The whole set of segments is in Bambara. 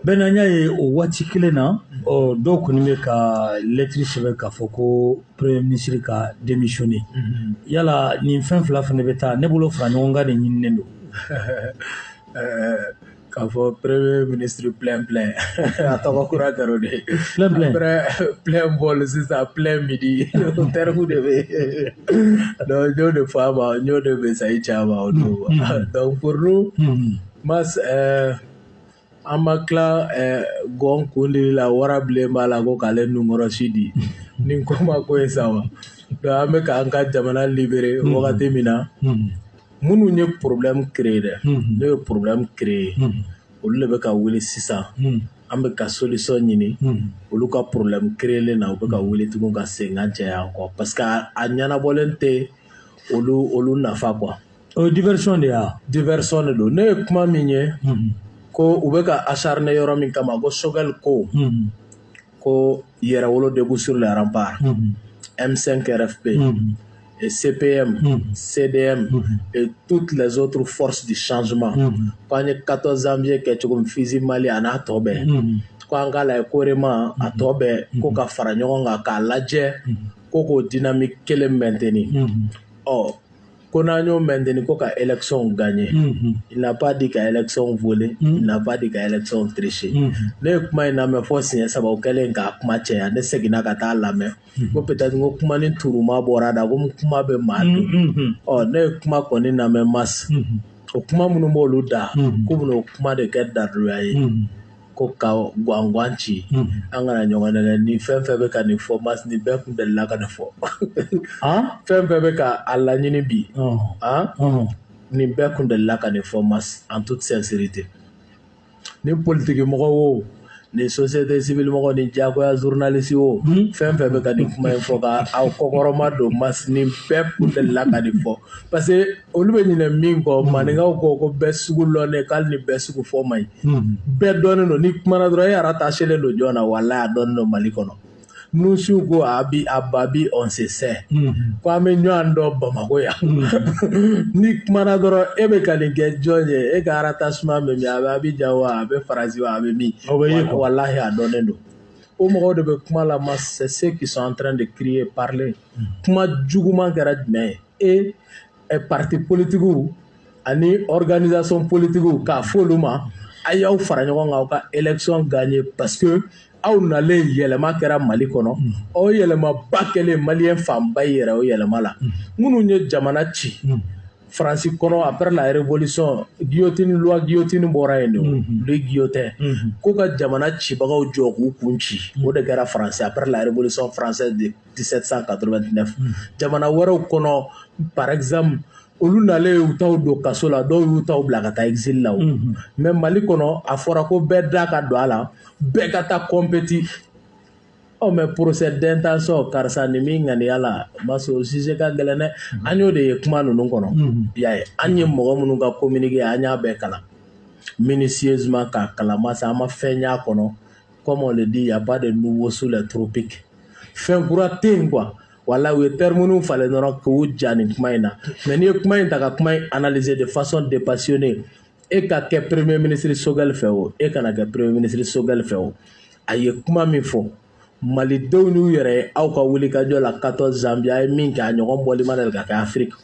bɛnna n y'a ye o waati kelen na ɔ dɔw kɔni bɛ ka lɛtiri sɛbɛn k'a fɔ ko premier ministre ka démissionner yala nin fɛn fila fana bɛ taa ne bolo fara ɲɔgɔn kan de ɲininen don k'a fɔ premier ministre plein plein a tɔgɔ kura kɛra o de ye plein plein après plein bol sisan plein midi o terme de bɛ yen donc n y'o de fɔ a ma n y'o de message ci a ma o don mm, mm, mm. donc pour nous mas euh, an ma tila euh, gɔn kundili la warabilen b'a la ko k'ale nunkɔrɔsi di ni ko ma ko ye sa wa donc an bɛ k'an ka jamana libérer wagati min na minnu ye problème créer dɛ n'o ye problème créer olu de bɛ ka wuli sisan an bɛ ka solution ɲini olu ka problème créer na u bɛ ka wuli tugun ka senkan caya kɔ parce que a ɲɛnabɔlen tɛ olu olu nafa quoi o ye diversion de ye diversion de don ne ye kuma min ye ko u bɛ ka acharner yɔrɔ min kama ko Choguel ko ko Yɛrɛwolo debout sur les remparts M5 RFP et CPM mm. CDM mm. et toutes les autres forces du changement ko an ye 14 janvier kɛ cogo min FUSI Mali an'a tɔ bɛɛ ko an k'a lajɛ COREMA a tɔ bɛɛ ko ka fara ɲɔgɔn kan k'a lajɛ ko k'o dynamique kelen maintenir ɔ ko n'an y'o maintenir ko ka élection gagner il n'a pas dit ka élection voler il n'a pas dit ka élection tricher ne ye kuma in lamɛn fo siɲɛ saba u kɛlen k'a kuma cɛ yan ne seginna ka taa lamɛn ko peut-être ko kuma ni turuma bɔra da ko kuma bɛ maa dun ɔ ne ye kuma kɔni lamɛn mas o kuma minnu b'olu da ko u bɛna o kuma de kɛ daduya ye ko ka gwangwan ci an kana ɲɔgɔn nɛgɛn ni fɛn fɛn bɛ ka nin fɔ mas ni bɛɛ tun delila ka nin fɔ fɛn fɛn bɛ ka a laɲini bi ni bɛɛ tun delila ka nin fɔ mas en toute sincérité ni politique mɔgɔ wo ni société civile mɔgɔ ni jagoya journaliste wo fɛn fɛn bɛ ka nin kuma in fɔ ka aw kɔkɔrɔmadon mas ni bɛɛ tun delila ka nin fɔ parce olu bɛ ɲinɛ min kɔ hmm. maninkaw ko ko bɛɛ sugu lɔnnen k'ale ni bɛɛ sugu fɔ man ɲi hmm. bɛɛ dɔnnen don n'i kumana dɔrɔn e rattachélen don jɔn na walahi a dɔnnen don mali kɔnɔ nouchiw ko à Babi on se sait hmm. ko an bɛ ɲɔgɔn dɔn bamakɔ yan n'i kumana dɔrɔn e bɛ ka nin kɛ jɔn ye e ka rattachement bɛ min a bɛ Abidjan wa a bɛ faransi wa a bɛ min walahi a dɔnnen don o mɔgɔw de bɛ kuma la mais c'est ceux qui sont en train de crier parler kuma juguman kɛra jumɛn ye e pati politigiw ani organisation politigiw k'a fɔ olu ma a y'aw fara ɲɔgɔn kan aw ka élection gagner parce que aw nalen yɛlɛma kɛra mali kɔnɔ o yɛlɛmaba kɛlen maliyɛn fanba yɛrɛ o yɛlɛma la minnu ye jamana ci faransi kɔnɔ après la révolution guillotine loi guillotine bɔra yen de guillotine ko ka jamana cibagaw jɔ k'u kun ci o de kɛra faransi après la révolution française de 1789 jamana wɛrɛw kɔnɔ par exemple olu nalen y'u taw don kaso la dɔw y'u taw bila ka taa exil la o mhm. mais mali kɔnɔ a fɔra ko bɛɛ da ka don a la bɛɛ ka taa kɔnpeti ɔ oh, mais procès d'intention karisa ni min ŋaniya la masa o sujet ka gɛlɛn dɛ mhm. an y'o de ye kuma ninnu kɔnɔ mhm. y'a ye an ye mɔgɔ minnu ka communiqué an y'a bɛɛ kalan minutieusement k'a kalan masa an ma fɛn y'a kɔnɔ comme on le dit, il n'y a pas de nouveau sous les tropiques. fɛn kura tɛ yen quoi. Voilà, u ye terme ninnu falen dɔrɔn k'u ja nin kuma in na. Mais n'i ye kuma in ta ka kuma in analyser de façon dépassionnée. e ka kɛ Premier ministre Choguel fɛ o, e kana kɛ Premier ministre Choguel fɛ o, a ye kuma min fɔ. malidenw n'u yɛrɛ ye aw ka wulikajɔ la 14 janvier a ye min kɛ a ɲɔgɔn bɔli ma deli ka kɛ afiriki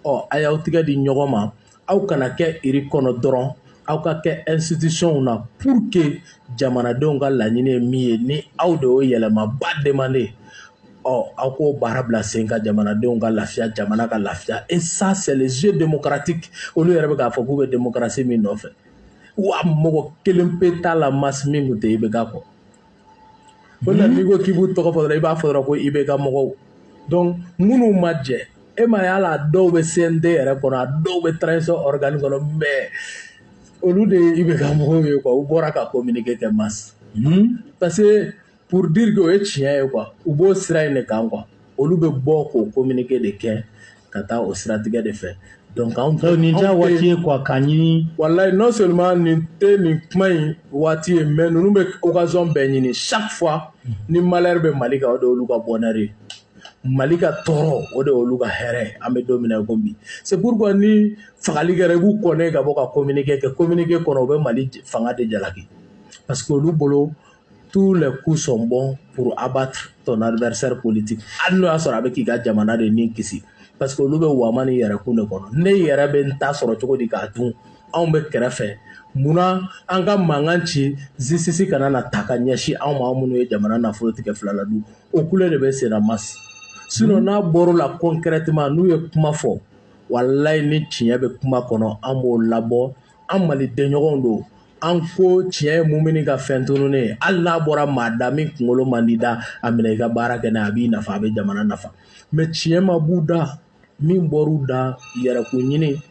ɔ a y'aw tigɛ di ɲɔgɔn ma aw kana kɛ iri kɔnɔ dɔrɔn aw ka kɛ institutions na pour que jamanadenw ka laɲini ye min ye ni aw de y'o yɛlɛmaba demande ɔ aw k'o baara bila sen kan jamanadenw ka lafiya jamana ka lafiya et ça c'est les jeux démocratiques olu yɛrɛ bɛ k'a fɔ k'u bɛ démocratie min nɔfɛ wa mɔgɔ kelen pe t'a la masse min tun tɛ IBK kɔ o la n'i ko k'i b'u tɔgɔ fɔ dɔrɔn i b'a fɔ dɔrɔn ko IBK mɔgɔw donc minnu ma jɛ e ma ye hali a dɔw bɛ CNT yɛrɛ kɔnɔ a dɔw bɛ transition organe kɔnɔ mais olu de ye IBK mɔgɔw ye quoi u bɔra ka communiqué kɛ masse parce que pour dire que o ye tiɲɛ ye quoi u b'o sira in de kan quoi olu bɛ bɔ k'o kominike de kɛ ka taa o siratigɛ de fɛ dɔnku anw tɛ nin diya waati ye kuwa ka ɲini walayi non seulement nin tɛ nin kuma in waati ye mɛ ninnu bɛ occasion bɛɛ ɲini chaque fois ni malheur bɛ mali kan o de olu ka bonheur mali ka tɔɔrɔ o de olu ka hɛrɛ an bɛ don min na ko bi c'est pourquoi ni fagali kɛra i b'u kɔnɛ ka bɔ ka kominike kɛ kominike kɔnɔ u bɛ mali fanga de jalaki parce que olu bolo tous les coups sont bons pour abattre ton adversaire politique hali n'o y'a sɔrɔ a bɛ k'i ka jamana de nagasi parce que olu bɛ waama ni yɛrɛ kun de kɔnɔ ne yɛrɛ bɛ n ta sɔrɔ cogo di k'a dun anw bɛ kɛrɛfɛ munna an ka mankan ci justice kana na ta ka ɲɛsin anw ma anw minnu ye jamana nafolo tigɛ fila la dun o kule de bɛ senna masi sinɔn hmm. n'a bɔr'o la concrètement n'u ye kuma fɔ walayi ni tiɲɛ bɛ kuma kɔnɔ an b'o labɔ an mali denɲɔgɔnw don an ko tiɲɛ ye mumini ka fɛn tununi ye hali n'a bɔra maa da min kunkolo man di da a minɛ i ka baara kɛ n'a a b'i nafa a bɛ jamana nafa mais tiɲɛ ma b'u da min bɔr'u da yɛrɛko ɲini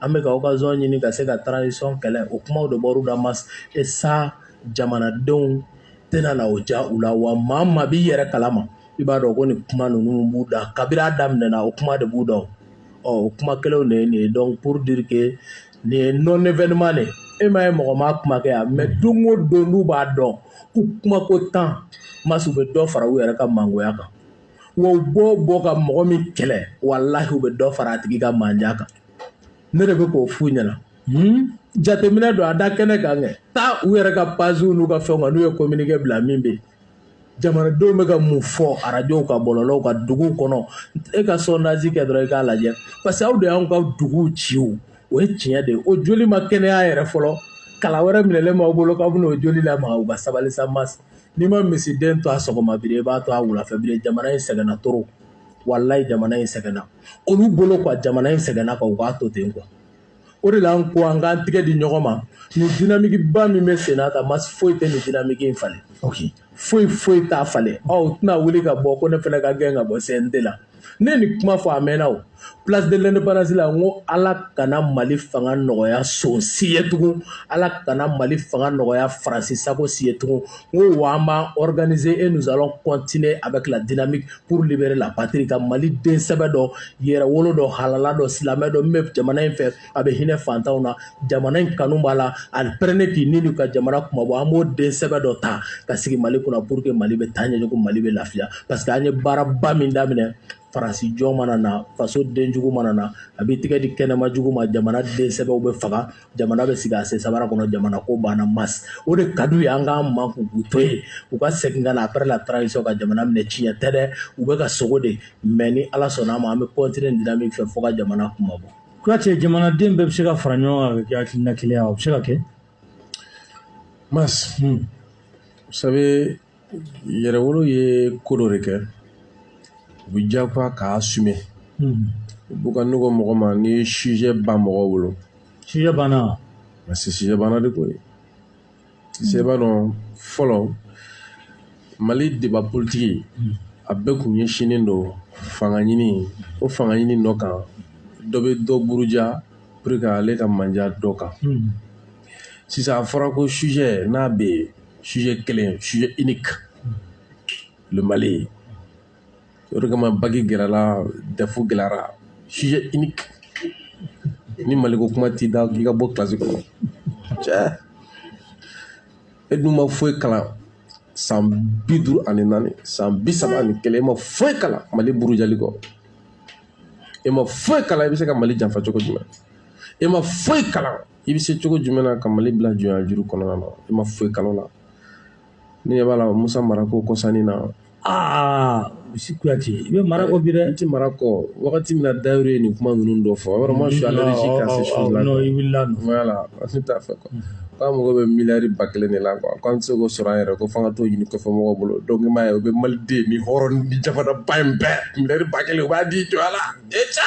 an bɛ ka occasion ɲini ka se ka transition kɛlɛ o kumaw de bɔr'u da mas est-ce jamanadenw tɛna na o ja u la wa maa maa b'i yɛrɛ kalama i b'a dɔn ko nin kuma ninnu b'u da kabiri a daminɛna o kuma de b'u da o kuma kelenw de ye nin ye donc pour dire que nin ye non événement de e ma ye mɔgɔ ma kuma kɛ yan mais don o don n'u b'a dɔn ko kumako tan mas u bɛ dɔ fara u yɛrɛ ka mangoya kan wa u b'o bɔ ka mɔgɔ min kɛlɛ walahi u bɛ dɔ fara a tigi ka manja kan ne de bɛ k'o f'u ɲɛna jateminɛ don a da kɛnɛ kan kɛ taa u yɛrɛ ka paziw n'u ka fɛnw kan n'u ye communiqué bila min bɛ yen jamanadenw bɛ ka mun fɔ arajow ka bɔlɔlɔw ka dugu kɔnɔ e ka sondage kɛ dɔrɔn i k'a lajɛ parce que aw de y'an ka dugu ci o ye tiɲɛ de o joli ma kɛnɛya yɛrɛ fɔlɔ kala wɛrɛ minɛlen b'aw bolo k'aw bɛna o joli lamaga u ka sabali sa mas n'i ma misiden to a sɔgɔma biri i b'a to a wulafɛ biri jamana in sɛgɛnna trop walayi jamana in sɛgɛnna olu bolo quoi jamana in sɛgɛnna ka u k'a to ten quoi o de la an ko an k'an tɛgɛ di ɲɔgɔn ma nin dinamikiba min bɛ sen na tan mas foyi tɛ nin dinamiki in falen foyi foyi t'a falen aw tɛna wuli ka bɔ ko ne fana ka gɛn ka bɔ CNT la ne ye nin kuma fɔ a mɛnna o place de l'indépendance la n ko ala kana mali fanga nɔgɔya son si ye tugun ala kana mali fanga nɔgɔya faransi sago si ye tugun ko wa an b'an organiser et nous allons continuer avec la dynamique pour libérer la patrie ka Mali den sɛbɛ dɔ yɛrɛwolo dɔ halala dɔ silamɛ dɔ min bɛ jamana in fɛ a bɛ hinɛ fantanw na jamana in kanu b'a la a pɛrɛnnen k'i ni di ka jamana kunmabɔ an b'o den sɛbɛ dɔ ta ka sigi Mali kunna pour que Mali bɛ taa ɲɛ janko Mali bɛ lafiya parce que an ye baaraba min daminɛ faransi jɔn mana na faso den jugu mana na a b'i tigɛ di kɛnɛma jugu ma jamana den sɛbɛw bɛ faga jamana bɛ sigi a sen sabara kɔnɔ jamana ko banna mas o de ka d'u ye an k'an makun k'u to yen u ka segin ka na après la transition ka jamana minɛ tiɲɛ tɛ dɛ u bɛ ka sogo de mais ni ala sɔnn'a ma an bɛ continuer nin dynamique fɛ fo ka jamana kunmabɔ kuyate jamanaden bɛɛ bɛ se ka fara ɲɔgɔn kan ka kɛ hakilina kelen ye o bɛ se ka kɛ mas hmm. vous savez yɛrɛwolo ye ko dɔ de kɛ u bɛ diyagoya k'a assumer u b'u ka nɔgɔ mɔgɔ ma ni sujet ban mɔgɔw bolo sujet banna parce que sujet banna de ko ye sujet b'a dɔn fɔlɔ mali débat politique a bɛɛ kun ɲɛsinnen don fanga ɲini o fanga ɲini nɔ kan dɔ bɛ dɔ buruja pour que ale ka manja dɔ kan sisan a fɔra ko sujet n'a bɛ yen sujet kelen sujet unique le mali o de kama baki gɛlɛyara dɛfu gɛlɛyara sujet unique ni maliko kuma t'i da k'i ka bɔ kilasi kɔnɔ cɛ e dun ma foyi kalan san bi duuru ani naani san bi saba ani kelen e ma foyi kalan mali burujali kɔ e ma foyi kalan i bɛ se ka mali janfa cogo jumɛn e ma foyi kalan i bɛ se cogo jumɛn na ka mali bila jɔnya juru kɔnɔna na i ma foyi kalan la ne ɲɛ b'a la musa mara ko kɔsa in na aa misi kuyate i bɛ mara kɔ bi dɛ n tɛ mara kɔ wagati min na Tayiru ye nin kuma ninnu dɔ fɔ vraiment je suis allergique à ces choses là i wulila nɔ voilà ne t'a fɛ quoi k'an mago bɛ miliyari ba kelen de la quoi k'an tɛ se k'o sɔrɔ an yɛrɛ ko f'an ka t'o ɲini kɔfɛ mɔgɔw bolo donc i m'a ye o bɛ maliden ni hɔrɔn ni jamanaba in bɛɛ miliyari ba kelen u b'a di jɔ a la e ca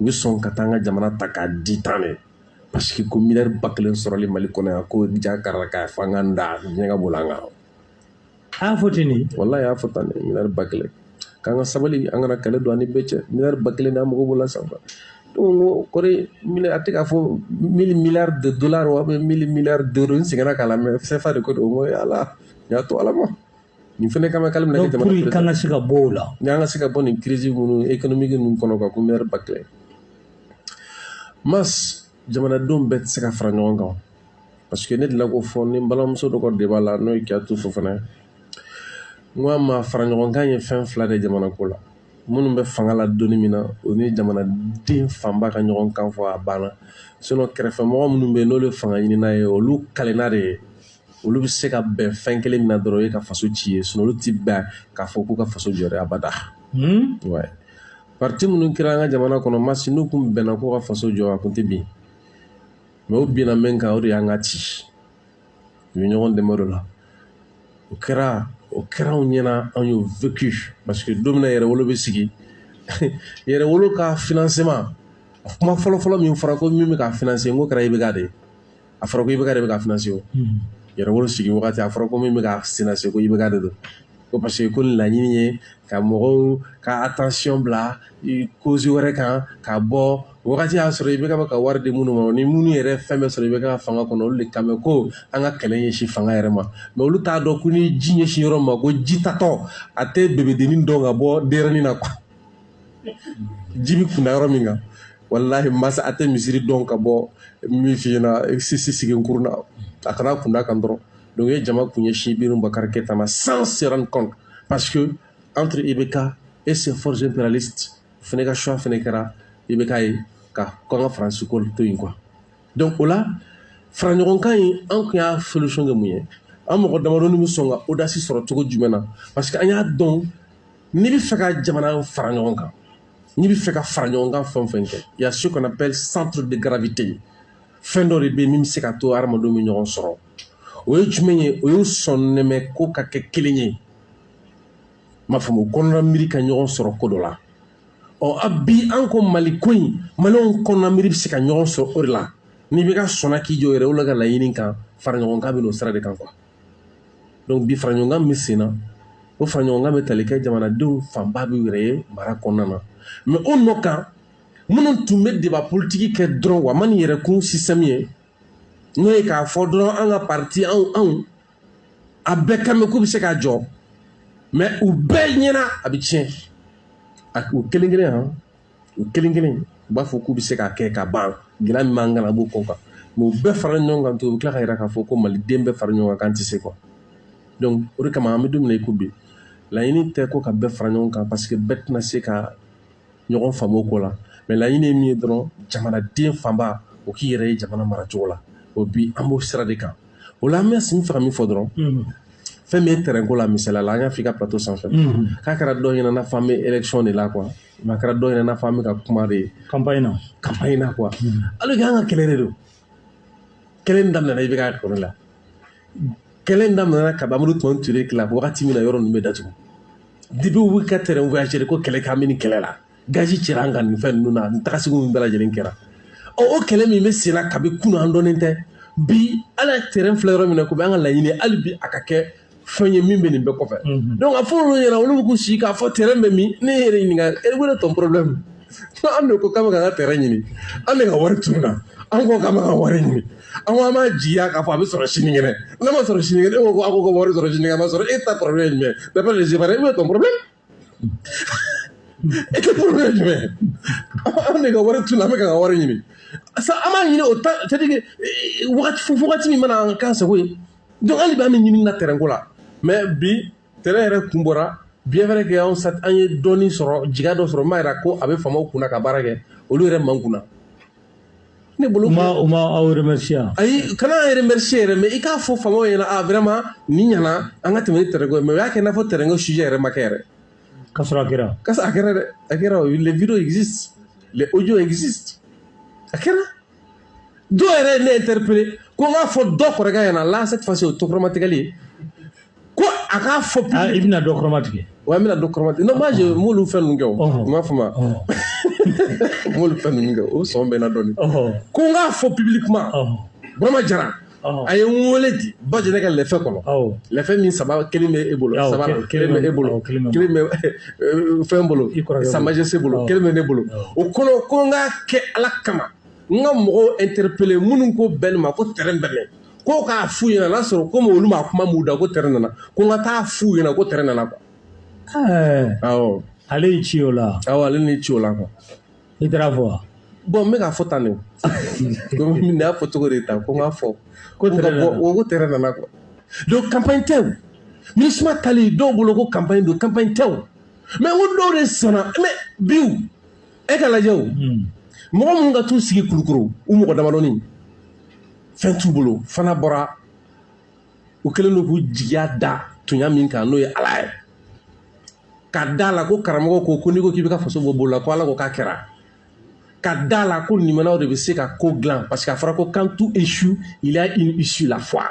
u bɛ sɔn ka taa an ka jamana ta k'a di tan de parce que ko miliyari ba kelen sɔrɔli mali kɔnɔ yan ko ja karila k'a fɔ an ka da diɲɛ ka bolo an kan a y'a fɔ ten de walayi a y'a fɔ tan de miliyari ba kelen k'an ka sabali an kana kɛlɛ don an ni bɛɛ cɛ miliyari ba kelen n'an mago b'o la sanfɛ donc k'o kɔrɔ a tɛ k'a fɔ mille milliards de dollars wa mille milliards d'euros n seginna k'a lamɛn sɛfa de ko don n ko ala n y'a to ala ma nin fana kama k'ale bɛna kɛ jamana président ye, k'an ka se ka bɔ o la, ni an ka se ka bɔ nin crise minnu économique ninnu kɔnɔ quoi ko maire Bartele mas jamanadenw bɛɛ tɛ se ka fara ɲɔgɔn kan parce que ne delila k'o fɔ ni n balimamuso dɔ ka débat la n'o ye Kiyatu Fofana n ko a ma fara ɲɔgɔn kan ye fɛn fila de ye jamanako la minnu bɛ fanga la don min na o ni jamanaden fanba ka ɲɔgɔn kan fɔ a banna sinon kɛrɛfɛmɔgɔ minnu bɛ yen n'olu ye fanga ɲinina ye olu kalenna de ye olu bɛ se ka bɛn fɛn kelen min na dɔrɔn o ye ka faso ci ye sinon olu ti bɛn k'a fɔ k'u ka faso jɔ dɛ abada hmm? ouais. parti minnu kɛra an ka jamana kɔnɔ masi n'u kun bɛnna k'u ka faso jɔ a kun tɛ bin mais u bɛnna min kan o de y'an ka ci u ye ɲɔgɔn dɛmɛ o la o kɛra o kɛra anw ɲɛna anw y'o vécu parce que don min na yɛrɛwolo bɛ sigi yɛrɛwolo ka financement kuma fɔlɔfɔlɔ min fɔra ko min bɛ ka financer n ko kɛra IBK de ye a fɔra ko IBK de bɛ ka financer ko yɛrɛwolo sigi wagati a fɔra ko min bɛ ka financer ko IBK de don ko parce que ko laɲini ye ka mɔgɔw ka attention bila cause wɛrɛ kan ka bɔ wagati y'a sɔrɔ IBK bɛ ka wari di minnu ma ni minnu yɛrɛ fɛn bɛɛ sɔrɔ IBK ka fanga kɔnɔ olu de kan bɛ ko an ka kɛlɛ ɲɛsin fanga yɛrɛ ma mais olu t'a dɔn ko ni ji ɲɛsin yɔrɔ ma ko ji taatɔ a tɛ bebedennin dɔn ka bɔ dennin na quoi ji bɛ kun da yɔrɔ min kan walahi masa a tɛ misiri dɔn ka bɔ min f'i ɲɛna sisi sigi kurun na a kana kun da kan dɔrɔn donc ye jama kun ɲɛsin iburahim bubakari keyita ma sans se rendre compte parce que entre ibk et ses forces impérialistes fana ka choix fana kɛra ibk ye ka ko an ka faransi ko to yen quoi donc o la faraɲɔgɔnkan in an kun y'a solution kɛ mun ye an mɔgɔ damadɔni bɛ sɔn ka audace sɔrɔ cogo jumɛn na parce que an y'a dɔn n'i bɛ fɛ ka jamana fara ɲɔgɔn kan n'i bɛ fɛ ka fara ɲɔgɔn kan fɛn fɛn kɛ il y a ce qu'on appelle centre de gravité fɛn dɔ de bɛ yen min bɛ se ka to hadamadenw bɛ ɲɔgɔn sɔrɔ o ye jumɛn ye o ye sɔnnɛmɛ ko ka kɛ kelen ye m'a faamu kɔnɔna miiri ka ɲɔgɔn sɔrɔ ko dɔ la ɔ a bi an ko mali ko in maliyɛnw kɔnɔna miiri bɛ se ka ɲɔgɔn sɔrɔ o de la n'i bɛ ka sɔnna k'i jɔ yɛrɛwolo ka laɲini kan fara ɲɔgɔn kan bɛ n'o sira de kan quoi donc bi faraɲɔgɔnkan bɛ senna o faraɲɔgɔnkan bɛ tali kɛ jamanadenw fanba b'i yɛrɛ ye mara kɔnɔna na mais o nɔ kan minnu tun bɛ débat politique kɛ dɔrɔn wa ma ni yɛrɛkun système ye n'o ye k'a fɔ dɔrɔn an ka parti anw anw a bɛɛ kan bɛ k'u bɛ se k'a jɔ mais u bɛɛ ɲɛna a bɛ tiɲɛ a u kelen kelen han u kelen kelen u b'a fɔ k'u bɛ se k'a kɛ ka ban gɛlɛya min b'an kan a b'o kɔ kan mais u bɛɛ fara ɲɔgɔn kan to u bɛ tila k'a yira k'a fɔ ko maliden bɛɛ fara ɲɔgɔn kan k'an tɛ se quoi donc o de kama an bɛ don min na i ko bi laɲini tɛ ko ka bɛɛ fara ɲɔgɔn kan parce que bɛɛ tɛna se ka ɲɔgɔn faamu o ko la mais laɲini ye min ye dɔrɔn jamanaden fanba o k'i yɛrɛ ye jamana maracogo la o bi an b'o sira de kan o la an bɛ sin fɛ ka min fɔ dɔrɔn fɛn min ye tɛrɛnko la misaliya la an y'a f'i ka plateau sanfɛ k'a kɛra dɔ ɲɛna n'a fɔ an bɛ élection de la quoi mais a kɛra dɔw ɲɛna n'a fɔ an bɛ ka kuma de ye campagne na campagne na quoi hmm. alors que an ka kɛlɛ de don kɛlɛ in daminɛna i bɛ k'a kɔrɔ la kɛlɛ in daminɛna ka amadu tumani ture kila wagati min na yɔrɔ ninnu bɛ datugu depuis u bɛ ka train voyageur ko kɛlɛ k'an bɛ nin kɛlɛ la gazi cɛra an kan nin fɛn ninnu na nin tagasegin min bɛɛ lajɛlen kɛra ɔ o kɛlɛ min bɛ sen na kabi kunun an dɔnnen tɛ bi ala ye tɛrɛn filɛ yɔrɔ min na komi an ka laɲini hali bi a ka kɛ fɛn ye min bɛ nin bɛɛ kɔfɛ donc a fɔ olu ɲɛna olu bɛ k'u sigi k'a fɔ train bɛ min ne yɛrɛ ɲininka quel est ton problème ko an de ko k'an bɛ ka an ka train ɲini an de ka wari tununna an ko k'an bɛ ka wari ɲini an ko an b'a jira k'a fɔ a bɛ sɔrɔ sinikɛnɛ n'a ma sɔrɔ sinikɛnɛ e ko ko a ko ka wari sɔrɔ sinikɛnɛ a ma sɔrɔ e ta problème ye jumɛn d'après les Ivoiriens quel est ton problème e ta problème jumɛn an de ka wari tununna an bɛ k'an ka wari ɲini sa an b'a ɲini o ta c'est-à-dire eh, wagati o wagati min mana k'an sago ye donc hali bi an bɛ ɲinini na train ko la mais bi train yɛrɛ kun bɔra bien vrai que anw sa an ye dɔɔni sɔrɔ jigiya dɔ sɔrɔ min b'a jira ko a bɛ faamaw kunna ka baara kɛ olu yɛrɛ man kunna ne bolo u ma aw remercier ayi kana an remercier yɛrɛ mais i k'a fɔ faamaw ɲɛna a ah, vraiment nin ɲɛna an ka tɛmɛ ni tɛrɛko ye mais o y'a kɛ i n'a fɔ tɛrɛko sujet yɛrɛ ma kɛ yɛrɛ k'a sɔrɔ a kɛra k'a sɔrɔ a kɛra dɛ a kɛra les vidéos existent les audios existent a kɛra dɔw yɛrɛ ye ne interpellé ko n k'a fɔ dɔ kɔrɔkɛ ɲɛna là cette fois-ci o tɛ kɔrɔmatigɛli ye ko a k'a fɔ ah, i bɛna dɔ kɔrɔma tigɛ wa n bɛna dɔ kɔrɔma tigɛ non je m'olu fɛn ninnu kɛ o n b'a fɔ ma m'olu fɛn ninnu kɛ o sɔn bɛ n na dɔɔnin ko n k'a fɔ publiquement burama jara a ye n wele di bajɛnɛ ka lɛfɛ kɔnɔ lɛfɛ min saba kelen bɛ e bolo saba kelen bɛ e bolo kelen bɛ fɛn bolo sa majesté bolo kelen bɛ ne bolo o kɔnɔ ko n k'a kɛ ala kama n ka mɔgɔw interpellé minnu ko bɛn ma ko tɛrɛ bɛ min ko k'a f'u ɲɛna n'a sɔrɔ komi olu ma kuma m'u da ko tɛrɛ nana ko n ka t'a f'u ɲɛna ko tɛrɛ nana quoi awɔ ale y'i ci o la awɔ ale ni ci o la quoi i taara fɔ wa bon n bɛ k'a fɔ tan de komi n y'a fɔ cogo de ta ko n k'a fɔ ko tɛrɛ nana ko tɛrɛ nana quoi donc campagne tɛ o minusma taali dɔw bolo ko campagne don campagne tɛ o mais n ko dɔw de sɔnna mais bi e ka lajɛ o mɔgɔ minnu ka t'u sigi kulukoro u mɔgɔ damadɔni fɛn t'u bolo fana bɔra u kɛlen don k'u jigiya da tunya min kan n'o ye ala ye ka da la ko karamɔgɔw ko ko n'i ko k'i bɛ ka faso bɔ bolo la ko ala ko k'a kɛra ka da la ko limanaw de bɛ se ka ko dilan parce que a fɔra ko quand tout échoue il y a une issue la foi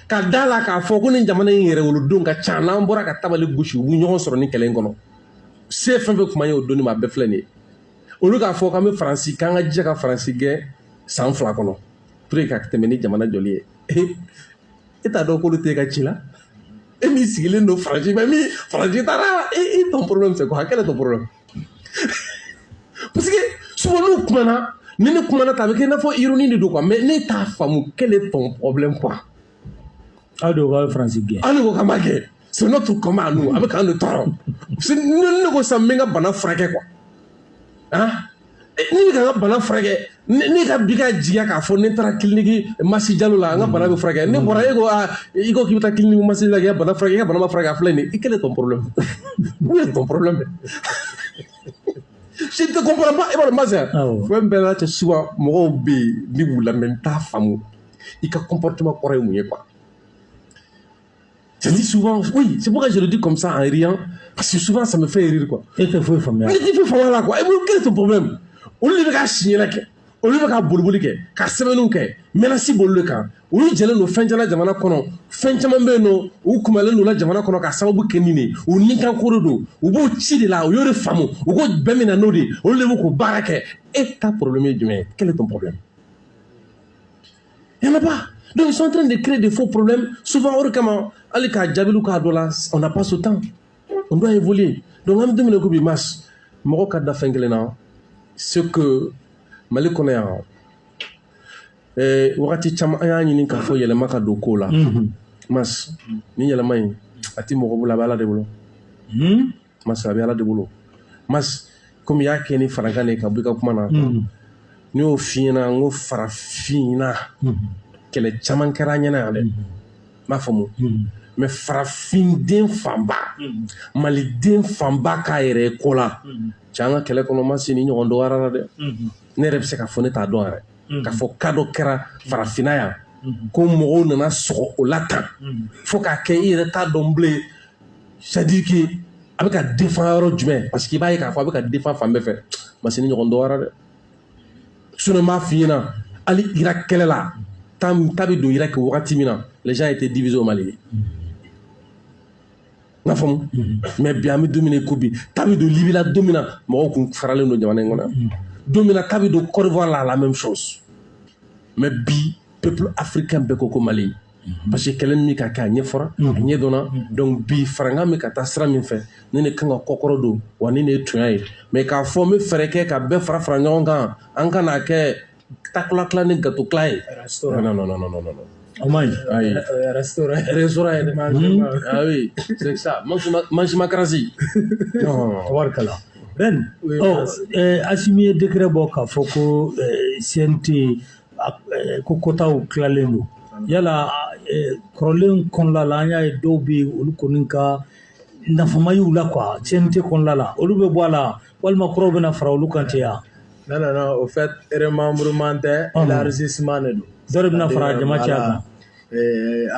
ka da la k'a fɔ ko ni jamana in yɛrɛ wolodenw ka ca n'an bɔra ka tabali gosi u bɛ ɲɔgɔn sɔrɔ ni kɛlɛ in kɔnɔ se fɛn fɛn kuma ye o donni ma a bɛɛ filɛ nin ye olu k'a fɔ k'an bɛ faransi k'an ka jija ka faransi gɛn san fila kɔnɔ pour que ka tɛmɛ ni jamana jɔli ye e t'a dɔn k'olu t'e ka ci la e min sigilen don faransi bɛ min faransi taara et ton problème c'est quoi quel est ton problème parce que souvent n'u kumana ni ne kumana ta a bɛ kɛ i n'a fɔ ironie de don quoi mais ne t'a faamu quel est ton problème quoi aw de ko k'aw ye faransi gɛn an de ko k'an b'a gɛn c'est notre combat à nous a bɛ k'an de tɔɔrɔ ne ko sisan n bɛ n ka bana furakɛ quoi ah ne ka n ka bana furakɛ ne ka bi ka jigiya k'a fɔ ne taara kiliniki masi jalo la n ka bana bɛ furakɛ ne bɔra e ko aa i ko k'i bɛ taa kiliniki masi la k'i ka bana furakɛ i ka bana ma furakɛ a filɛ nin ye quel est ton problème où est ton problème je ne te comprends pas e b'a dɔn ma sɛn fɛn bɛɛ n'a cɛ souvent mɔgɔw bɛ yen ni n b'u lamɛn n t'a faamu i ka comportement kɔrɔ ye mun ye quoi Je dis souvent, oui, c'est pourquoi je le dis comme ça en riant, parce que souvent ça me fait rire quoi. E tɛ foyi faamu. Mais i tɛ foyi faamu a la quoi. Et quel est ton problème Olu de bɛ ka signer la kɛ, olu bɛ ka boliboli kɛ, ka sɛbɛnniw kɛ, menace b'olu de kan. olu jɛlen don fɛn caman na jamana kɔnɔ fɛn caman bɛ yen nɔ u kumalen don la jamana kɔnɔ ka sababu kɛ nin ye u ninkan ko de don u b'o ci de la u y'o de faamu u ko bɛɛ min na n'o de olu de b'o ko baara kɛ e ta problème ye jumɛn ye quel est ton problème Il n'y en a pas. Donc ils sont en train de créer des faux problèmes. Souvent, o de kama, hali ka jaabi d'u ka dɔ la, on n'a pas ce temps. On doit évoluer. Donc an bɛ don min na i ko bi Mas, mɔgɔ ka da fɛn kelen na, c'est que Mali kɔnɔ yan, eh, wagati caman an y'a ɲini k'a fɔ yɛlɛma ka don kow la. Mhm. Mas, ni yɛlɛma in, a tɛ mɔgɔ bolo, a bɛ Ala de bolo. Mhm. Mas a bɛ Ala de bolo Mas kɔmi i y'a kɛ ni farankan de ka bɔ ka kuma na n y'o f'i ɲɛna ko farafinna kɛlɛ caman kɛra an ɲɛna yan dɛ i b'a faamu mais farafinden fanba maliden fanba k'a yɛrɛ kɔ la cɛ an ka kɛlɛ kɔnɔ Mas nin ɲɔgɔn dɔgɔyara dɛ ne yɛrɛ bɛ se k'a fɔ ne t'a dɔn yɛrɛ k'a fɔ k'a dɔ kɛra farafinna yan ko mɔgɔw nana sɔgɔ o la tan fo k'a kɛ i yɛrɛ t'a dɔn bilen c'est-à-dire que a bɛ ka défend yɔrɔ jumɛn parce que i b'a ye k'a fɔ a bɛ ka défend fan bɛɛ fɛ Mas nin ɲɔgɔn dɔgɔyara dɛ sinon n b'a f'i ɲɛna hali Irak kɛlɛ la ta bɛ don Irak wagati min na les gens étaient divisés au Mali n y'a faamu mais bi an bɛ don min na i ko bi ta bɛ don Libi la don min na mɔgɔw kun faralen don jamana in kɔnɔ don min na ta bɛ don Côte d'Ivoire la la même chose mais bi peuple africain bɛɛ ko ko Mali Mhm. parce que kɛlɛ nin bɛ ka kɛ a ɲɛfɔra a mhm. ɲɛdɔnna mhm. donc bi farankan bɛ ka taa sira min fɛ nin de kan ka kɔkɔrɔ don wa nin de ye tuɲa ye mais k'a fɔ n bɛ fɛɛrɛ kɛ ka bɛɛ fara fara ɲɔgɔn kan an ka n'a kɛ takula tila ni gato tila ye non non non non non o man ɲi ayi restaurant restaurant yɛrɛ ma ah oui c'est ça mangécratie tabarikala Ben, oh, eh, Asimi ye décret bɔ k'a fɔ ko eh, CNT ko quotaw tilalen don yala kɔrɔlen kɔnɔla la an y'a ye dɔw bɛ yen olu kɔni ka nafa ma y'u la quoi CNT kɔnɔla la olu bɛ bɔ a la walima kuraw bɛna fara olu kan ten yan non non au fait remembrement tɛ élargissement de don dɔ de bɛna fara jama caya kan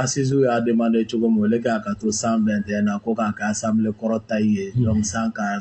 assises y'a demandé cogo min o de k'a ka to cent vingt et un na ko k'a ka assemblée kɔrɔ ta ye cent qua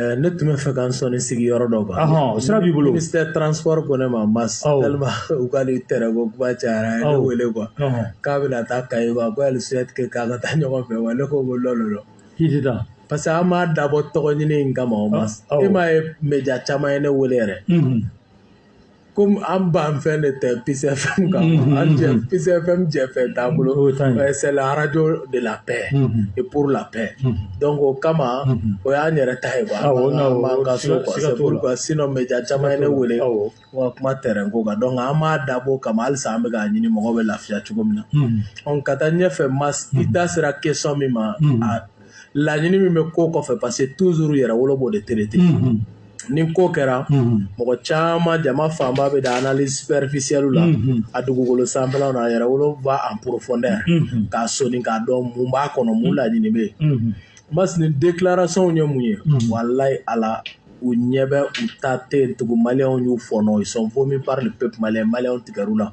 Eh, ne tun bɛ fɛ k'an sɔnin sigi yɔrɔ dɔ kan o sira b'i bolo ministère transport ko ne ma Mas tellement u ka nin tɛrɛn ko kuma cayara a ye ne wele quoi k'a bɛna taa Kayi quoi ko elle souhaite que k'an ka taa ɲɔgɔn fɛ wa ne ko ko non non non k'i tɛ taa parce que an m'a dabɔ tɔgɔ ɲini in kama o Mas e m'a ye média caman ye ne wele yɛrɛ komi an ban fɛn de tɛ Peace FM kan an Peace FM jɛ fɛn t'a bolo c'est la radio de la paix et pour la paix donc o kama o y'an yɛrɛ ta ye sinon média caman ye ne wele wa kuma terrain ko kan donc an m'a dabɔ kama halisa an bɛ k'a ɲini mɔgɔ bɛ lafiya cogo min na ɔ ka taa ɲɛfɛ mais i da sera question min ma laɲini min bɛ ko kɔfɛ parce que toujours Yɛrɛwolo b'o de traiter mhm. ni ko kɛra mhm. mɔgɔ caman jama fanba bɛ da analyse superficielle la mhm. a dugukolo sanfɛlaw na Yɛrɛwolo va en profondeur k'a soni k'a dɔn mun b'a kɔnɔ mun laɲini bɛ yen mais nin déclaration ye mun ye walayi ala u ɲɛ bɛ u ta tɛ yen tugun maliyɛnw y'u fɔnɔ ils sont vomis par le peuple malien maliyɛnw tigɛr'u la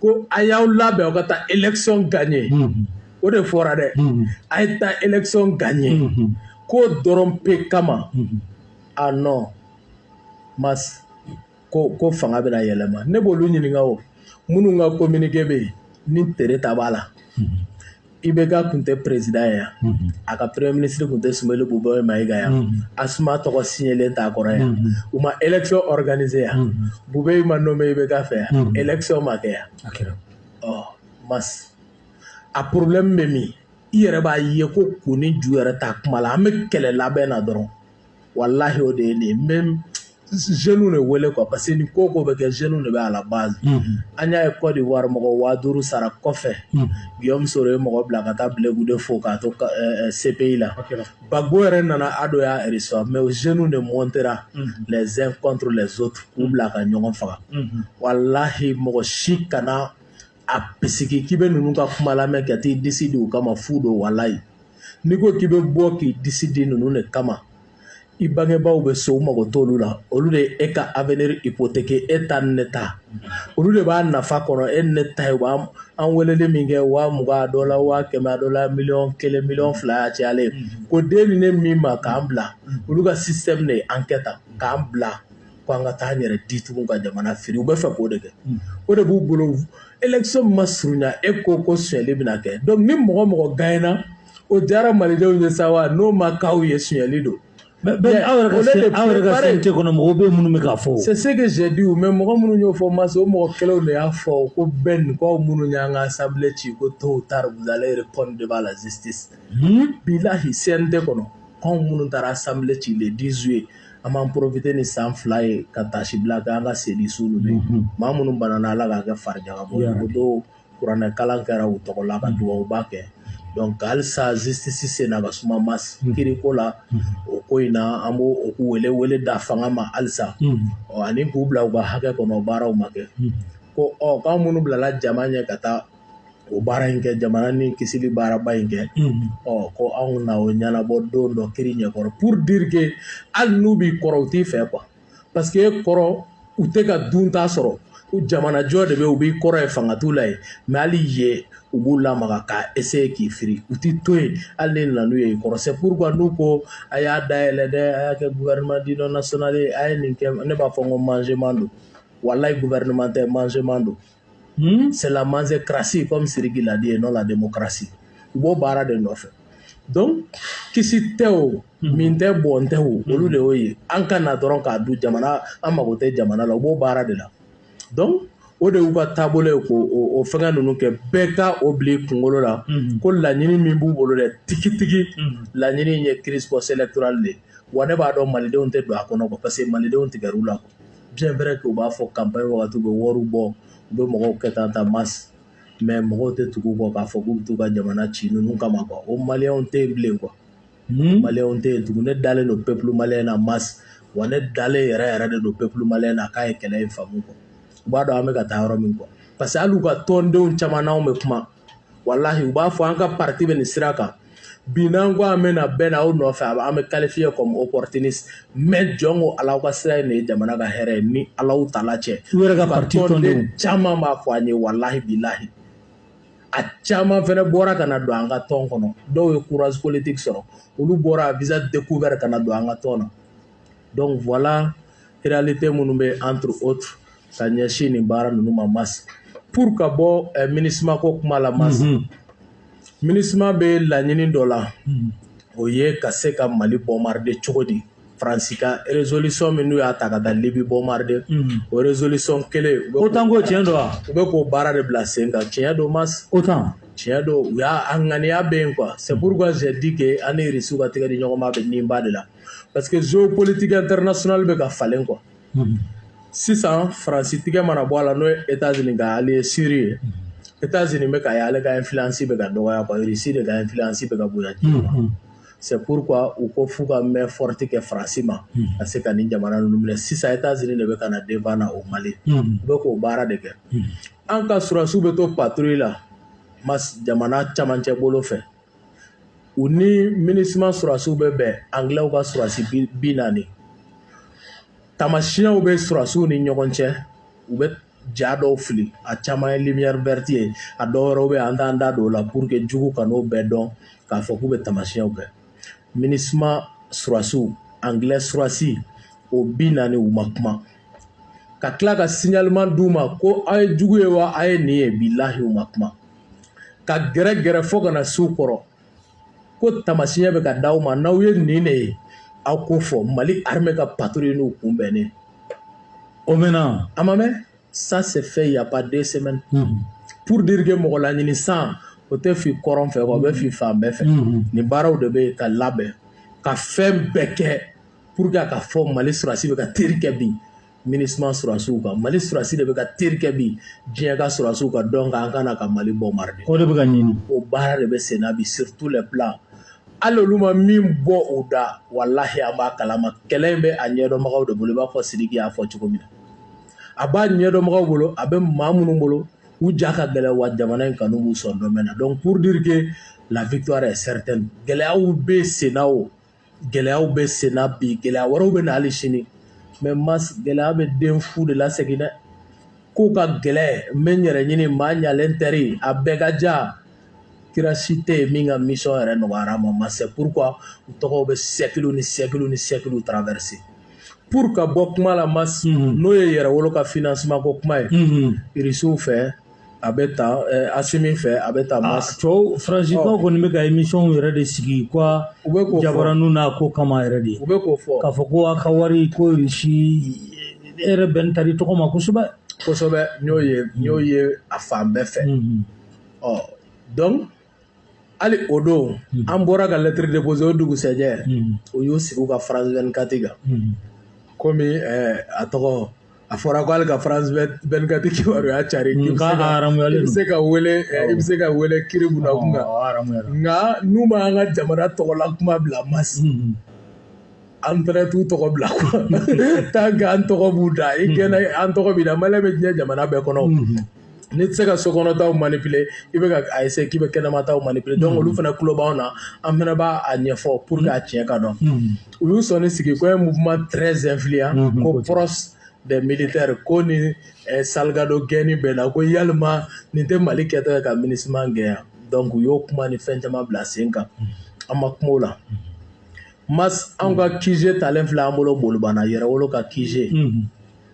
ko a y'aw labɛn aw ka taa élection gagner o de fɔra dɛ a ye taa élection gagner ko dɔrɔn pe kama ah non mais ko fanga bɛna yɛlɛma ne b'olu ɲininka o minnu ka communiqué bɛ yen ni Tréta b'a la i bɛ ka tun tɛ perezd yan a ka pere minisiriri tun tɛ sunbali bɔ bɔ ma ika yan a suma tɔgɔ silen t'a kɔrɔ yan u ma ekikananize yan bu bɛ e ma nɔ bɛ i bɛ ka fɛ yan ekisɛw ma kɛ yan ɔ ma a porobi bɛ min i yɛrɛ b'a ye ko ko ni ju yɛrɛ ta kuma la an bɛ kɛlɛ labɛn na dɔrɔn walahi o de ye nin ye même jeunes de wele quoi parce que ni ko ko bɛ kɛ jeunes de bɛ à la base an y'a ye Côte d'Ivoire mɔgɔ waa duuru sara kɔfɛ Guillaume Soro ye mɔgɔ bila ka taa Blé Goudé fo k'a to CPI la Gbagbo yɛrɛ nana Ado y'a reçoit mais o jeunes de montera les uns contre les autres k'u bila ka ɲɔgɔn faga walahi mɔgɔ si kana a bisigi k'i bɛ ninnu ka kuma lamɛn ka t'i disi di u kama fu don walayi n'i ko k'i bɛ bɔ k'i disi di ninnu de kama i bangebaaw bɛ so u mago t'olu la olu de e ka avenir hypothéquer e ta ni ne ta olu de b'a nafa kɔnɔ e ni ne ta ye u b'an weleli min kɛ waa mugan dɔ la waa kɛmɛ dɔ la miliyɔn kelen miliyɔn fila y'a cayalen k'o d'e ni ne min ma k'an bila olu ka système de ye an kɛ ta k'an bila ko an ka taa an yɛrɛ di tugun ka jamana firi u b'a fɛ k'o de kɛ o de b'u bolo élection ma surunya e ko ko sonyali bɛna kɛ donc ni mɔgɔ mɔgɔ gagnera o diyara malidenw ye sa wa n'o ma k'aw ye sonyali don aw yɛrɛ ka CNT kɔnɔ mɔgɔw bɛ minnu bɛ k'a fɔ c'est ce que j'ai dit mais mɔgɔ minnu y'o fɔ ma se o mɔgɔ kelenw de y'a fɔ ko Ben k'aw minnu y'an ka assemblée ci ko tôt ou tard vous allez répondre devant la justice bilahi CNT kɔnɔ k'anw minnu taara assemblée ci le 10 juillet an b'an profiter ni san fila ye ka taasi bila kɛ an ka seli su bɛ maa minnu banna ala k'a kɛ fari jaka bɔ o don kuranɛ kalan kɛra u tɔgɔ la ka dugawuba kɛ donc halisa justice senna ka suma mas kiri ko la o ko in na an b' u wele wele da fanga ma halisa ɔ ani k'u bila u ka hakɛ kɔnɔ baaraw ma kɛ ko ɔ k'an minnu bilala jama ɲɛ ka taa o baara in kɛ jamana ni kisili baaraba in kɛ ɔ ko anw na o ɲɛnabɔ don dɔ kiri ɲɛkɔrɔ pour dire que hali n'u b'i kɔrɔ u t'i fɛ quoi parce que e kɔrɔ u tɛ ka dunta sɔrɔ jamana jɔ de bɛ u b'i kɔrɔ ye fanga t'u la yen mais hali ye u b'u lamaga ka essayer k'i firi u t'i to yen hali ne nana ye i kɔrɔ c'est pourquoi n'u ko a y'a dayɛlɛ dɛ a y'a kɛ gouvernement d'union nationale ye a ye nin kɛ ne b'a fɔ ko mangement don walahi gouvernement tɛ mangement don Hmm? C'est la manzecratie, comme Siriki l'a dit, et non la démocratie. U b'o baara de nɔfɛ. Donc, kisi tɛ o, hmm. min tɛ bɔn tɛ o, hmm. olu de y'o ye. An ka na dɔrɔn k'a dun jamana, an mago tɛ jamana la, u b'o baara de la. Donc, o de y'u ka taabolo ye k'o o fɛngɛ ninnu kɛ bɛɛ ka o bila i kunkolo la ko laɲini min b'u bolo dɛ tigitigi laɲini in ye crise post électorale de ye wa ne b'a dɔn malidenw tɛ don a kɔnɔ quoi parce que malidenw tigɛr'u la quoi Bien vrai que u b'a fɔ campagne wagati u bɛ wari bɔ u bɛ mɔgɔw kɛ tan tan mas mais mɔgɔw tɛ tugu u kɔ k'a fɔ k'u bɛ t'u ka jamana ci ninnu kama quoi o malien tɛ yen bilen quoi malien tɛ yen tugun ne dalen don peuple malien na mas wa ne dalen yɛrɛ yɛrɛ de don peuple malien na k'a ye kɛlɛ in faamu quoi u b'a dɔn an bɛ ka taa yɔrɔ min quoi parce que hali u ka tɔndenw caman n'an bɛ kuma walahi u b'a fɔ an ka parti bɛ nin sira kan bi n'an ko an bɛna bɛ na aw nɔfɛ a bɛ- an bɛ qualifier comme opportuniste mais jɔn ko ala aw ka sira in de ye jamana ka hɛrɛ ye ni alaw tala cɛ U yɛrɛ ka parti tɔnden tɔndenw. caman b'a fɔ an ye walahi bilahi a caman fɛnɛ bɔra ka na don an ka tɔn kɔnɔ dɔw ye courage politique sɔrɔ olu bɔra visa découvert ka na don an ka tɔn na donc voilà réalité minnu bɛ entre autres ka ɲɛsin nin baara ninnu ma masi pour ka bɔ eh, minusma ko kuma la masi mm -hmm. minusma bɛ laɲini dɔ la mm -hmm. o ye ka se ka mali bombarder cogo di faransi ka résolution min n'u y'a ta ka taa libi bombarder mm -hmm. o résolution kelen otan ko tiɲɛ don wa u bɛ k'o baara de bila sen kan tiɲɛ don masi otan tiɲɛ don u y'a a ŋaniya bɛ yen quoi c'est pourquoi j'ai dit que an ni irisiw ka tɛgɛ di ɲɔgɔn ma bɛ nin ba de la parce que géopolitique internationale bɛ ka falen quoi mhm. sisan faransi tigɛ mana bɔ a la n'o ye états-unis ka allié sûr ye mhm. états-unis bɛ k'a ye ale ka influence bɛ ka dɔgɔya quoi russie de ka influence bɛ ka bonya diɲɛ ma mhm. c'est pourquoi u ko f'u ka main forte kɛ faransi ma ka se ka nin jamana ninnu minɛ sisan états-unis de bɛ ka na devant na o mali u bɛ k'o baara de kɛ an ka surasiw bɛ to patrouille la mas jamana camancɛ bolo fɛ u ni minusma sɔrɔdasiw bɛ bɛn angilɛw ka sɔrɔdasi bi naani tamasiyɛnw bɛ sɔrɔdasiw ni ɲɔgɔn cɛ u bɛ ja dɔw fili a caman ye lumière verte ye a dɔw wɛrɛw bɛ an t'an da don o la pour que jugu kan'o bɛɛ dɔn k'a fɔ k'u bɛ tamasiyɛnw kɛ minusma sɔrɔdasiw angilɛ sɔrɔdasi o bi naani u ma kuma ka tila ka signalement d'u ma ko aw ye jugu ye wa aw ye nin ye bilahi u ma kuma ka gɛrɛ gɛrɛ fo ka na s'u kɔrɔ ko tamasiɲɛ bɛ ka di aw ma n'aw ye nin de ye aw k'o fɔ mali armée ka patrouille n'u kunbɛnnen o mɛnna a ma mɛn ça s'est fait y a pas deux semaines pour dire que mɔgɔ laɲini san o tɛ fin kɔrɔn fɛ o bɛ fin fan bɛɛ fɛ nin baaraw de bɛ ka labɛn ka fɛn bɛɛ kɛ pour que a ka fɔ mali sɔrɔsi bɛ ka teri kɛ bi minusma surasiw kan mali surasi de bɛ ka teri kɛ bi diɲɛ ka surasiw kan donc an ka na ka mali bombarder o de bɛ ka ɲini o baara de bɛ senna bi sur tous les plans hali olu ma min bɔ u da walahi an b'a kalama kɛlɛ in bɛ a ɲɛdɔnbagaw de bolo i b'a fɔ sidiki y'a fɔ cogo min na a b'a ɲɛdɔnbagaw bolo a bɛ maa minnu bolo u ja ka gɛlɛn wa jamana in kanu b'u sɔn dɔmɛn na donc pour dire que la victoire est certaine gɛlɛyaw bɛ senna o gɛlɛyaw bɛ senna bi gɛlɛya wɛrɛw bɛ na hali sini mais mas gɛlɛya bɛ den fu de lasegin dɛ ko ka gɛlɛn n bɛ n yɛrɛ ɲini maa ɲalen tɛri a bɛɛ ka ja kira si tɛ yen min ka mission yɛrɛ nɔgɔyara ma mas c'est pourquoi u tɔgɔw bɛ siècle ni siècle ni siècle traverser pour ka bɔ kuma la mas mhm. n'o ye yɛrɛwolo ka financement ko kuma ye mhm. irisiw fɛ a bɛ ta asimi fɛ a bɛ taa ma cɛw faransikan kɔni bɛ ka émission yɛrɛ de sigi quoi u bɛ ko jabaraniw na ko kama yɛrɛ de u bɛ k'o fɔ k'a fɔ ko a ka wari ko irisi e yɛrɛ bɛn tali tɔgɔ ma kosɛbɛ kosɛbɛ n'o ye n'o ye a fan bɛɛ fɛ ɔ donc hali o don hmm. an bɔra ka lettre déposer o dugusɛjɛ hmm. u y'u sigi u ka france 24 kan hmm. komi eh, a tɔgɔ a fɔra ko hali ka france 24 kibaruya cari i bɛ se ka wele eh, i bɛ se ka wele tribunal kun kan nka n'u ma an ka jamana tɔgɔla kuma bila mas an fɛnɛ t'u tɔgɔ bila quoi tant que an tɔgɔ b'u da i kɛnɛ an tɔgɔ b'i da malien bɛ diɲɛ jamana bɛɛ kɔnɔ n'i tɛ se ka sokɔnɔtaw manipuler i bɛ ka a essayer k'i bɛ kɛnɛmataw manipuler donc olu fana tulo b'anw na an fana b'a ɲɛfɔ pour que a tiɲɛ ka dɔn u y'u sɔnni sigi ko un mouvement très influent ko proche des militaires ko ni salgado gɛnni bɛ na ko yalima nin tɛ mali kɛtɔ ye ka minusma gɛn donc u y'o kuma ni fɛn caman bila sen kan an ma kuma o la mas anw ka qg talen filɛ an bolo bolibana yɛrɛwolo ka qg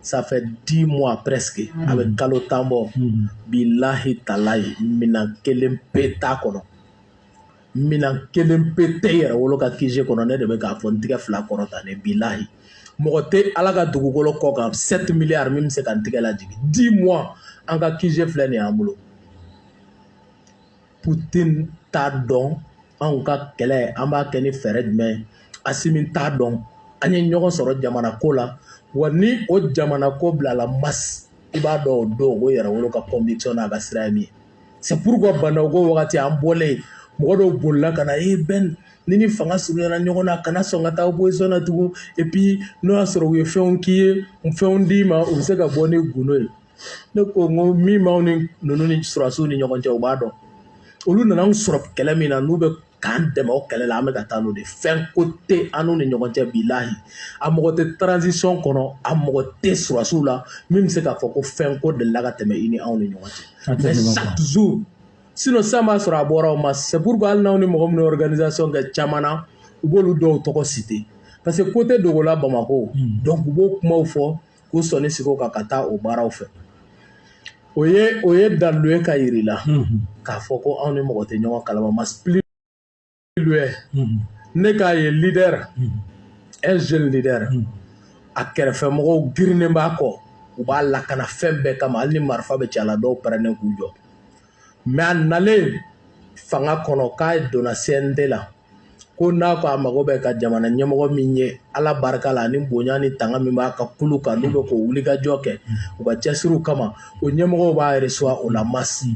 ça fait dix mois presque mm. a bɛ kalo tan bɔ mm. bilahi talayi minan kelen pe t'a kɔnɔ minan kelen pe tɛ yɛrɛwolo ka qg kɔnɔ ne de bɛ k'a fɔ n tigɛ fila kɔrɔtanen bilahi mɔgɔ tɛ ala ka dugukolo kɔ kan sept milliards min bɛ se ka n tigɛ lajigin dix mois an ka qg filɛ nin y'an bolo putin t'a dɔn anw ka kɛlɛ an b'a kɛ ni fɛɛrɛ jumɛn ye asimi t'a dɔn an ye ɲɔgɔn sɔrɔ jamana ko la wa ni o jamana ko bilala mas i b'a dɔn o don o yɛrɛwolo ka conviction n'a ka sira ye min ye c'est pourquoi ba ndaw ko wagati an bɔlen mɔgɔ dɔw bolila ka na ee ben ni ni fanga surunyana ɲɔgɔn na kana sɔn ka taa opposition na tugun et puis n'o y'a sɔrɔ u ye fɛnw k'i ye fɛnw d'i ma u bɛ se ka bɔ ni gundo ye ne ko n ko min b'aw ni ninnu ni surasiw ni ɲɔgɔn cɛ u b'a dɔn olu nana an sɔrɔ kɛlɛ min na n'u bɛ k'an dɛmɛ o kɛlɛ la an bɛ ka taa n'o tɛ fɛn ko tɛ an n'u ni ɲɔgɔn cɛ bilahi a mɔgɔ tɛ transition kɔnɔ a mɔgɔ tɛ surasiw la min bɛ se k'a fɔ ko fɛn ko delila ka tɛmɛ i ni anw ni ɲɔgɔn cɛ mais chaque jour sinon sisan b'a sɔrɔ a bɔra o ma c'est pourquoi hali n'aw ni mɔgɔ min ye organisation kɛ caman na u b'olu dɔw tɔgɔ citer parce que ko tɛ dogola bamakɔ donc u b'o kumaw fɔ k'u sɔnni sigi o kan ka taa o baaraw fɛ o ye o ye dalu ye k'a yir'i la k'a fɔ ko anw ni mɔgɔ tɛ ɲɔgɔn kalama mas plus loin ne k'a ye leader un jeune leader a kɛrɛfɛmɔgɔw girinnen b'a kɔ u b'a lakana fɛn bɛɛ kama hali ni marifa bɛ ci a la dɔw pɛrɛnnen k'u jɔ mais a nalen fanga kɔnɔ k'a donna cnt la ko n'a ko a mago bɛ ka jamana ɲɛmɔgɔ min ye ala barika la ni bonya ni tanga min b'a ka kulu kan n'u bɛ k'o wulikajɔ kɛ u ka cɛsiriw kama o ɲɛmɔgɔw b'a reçoit o la mas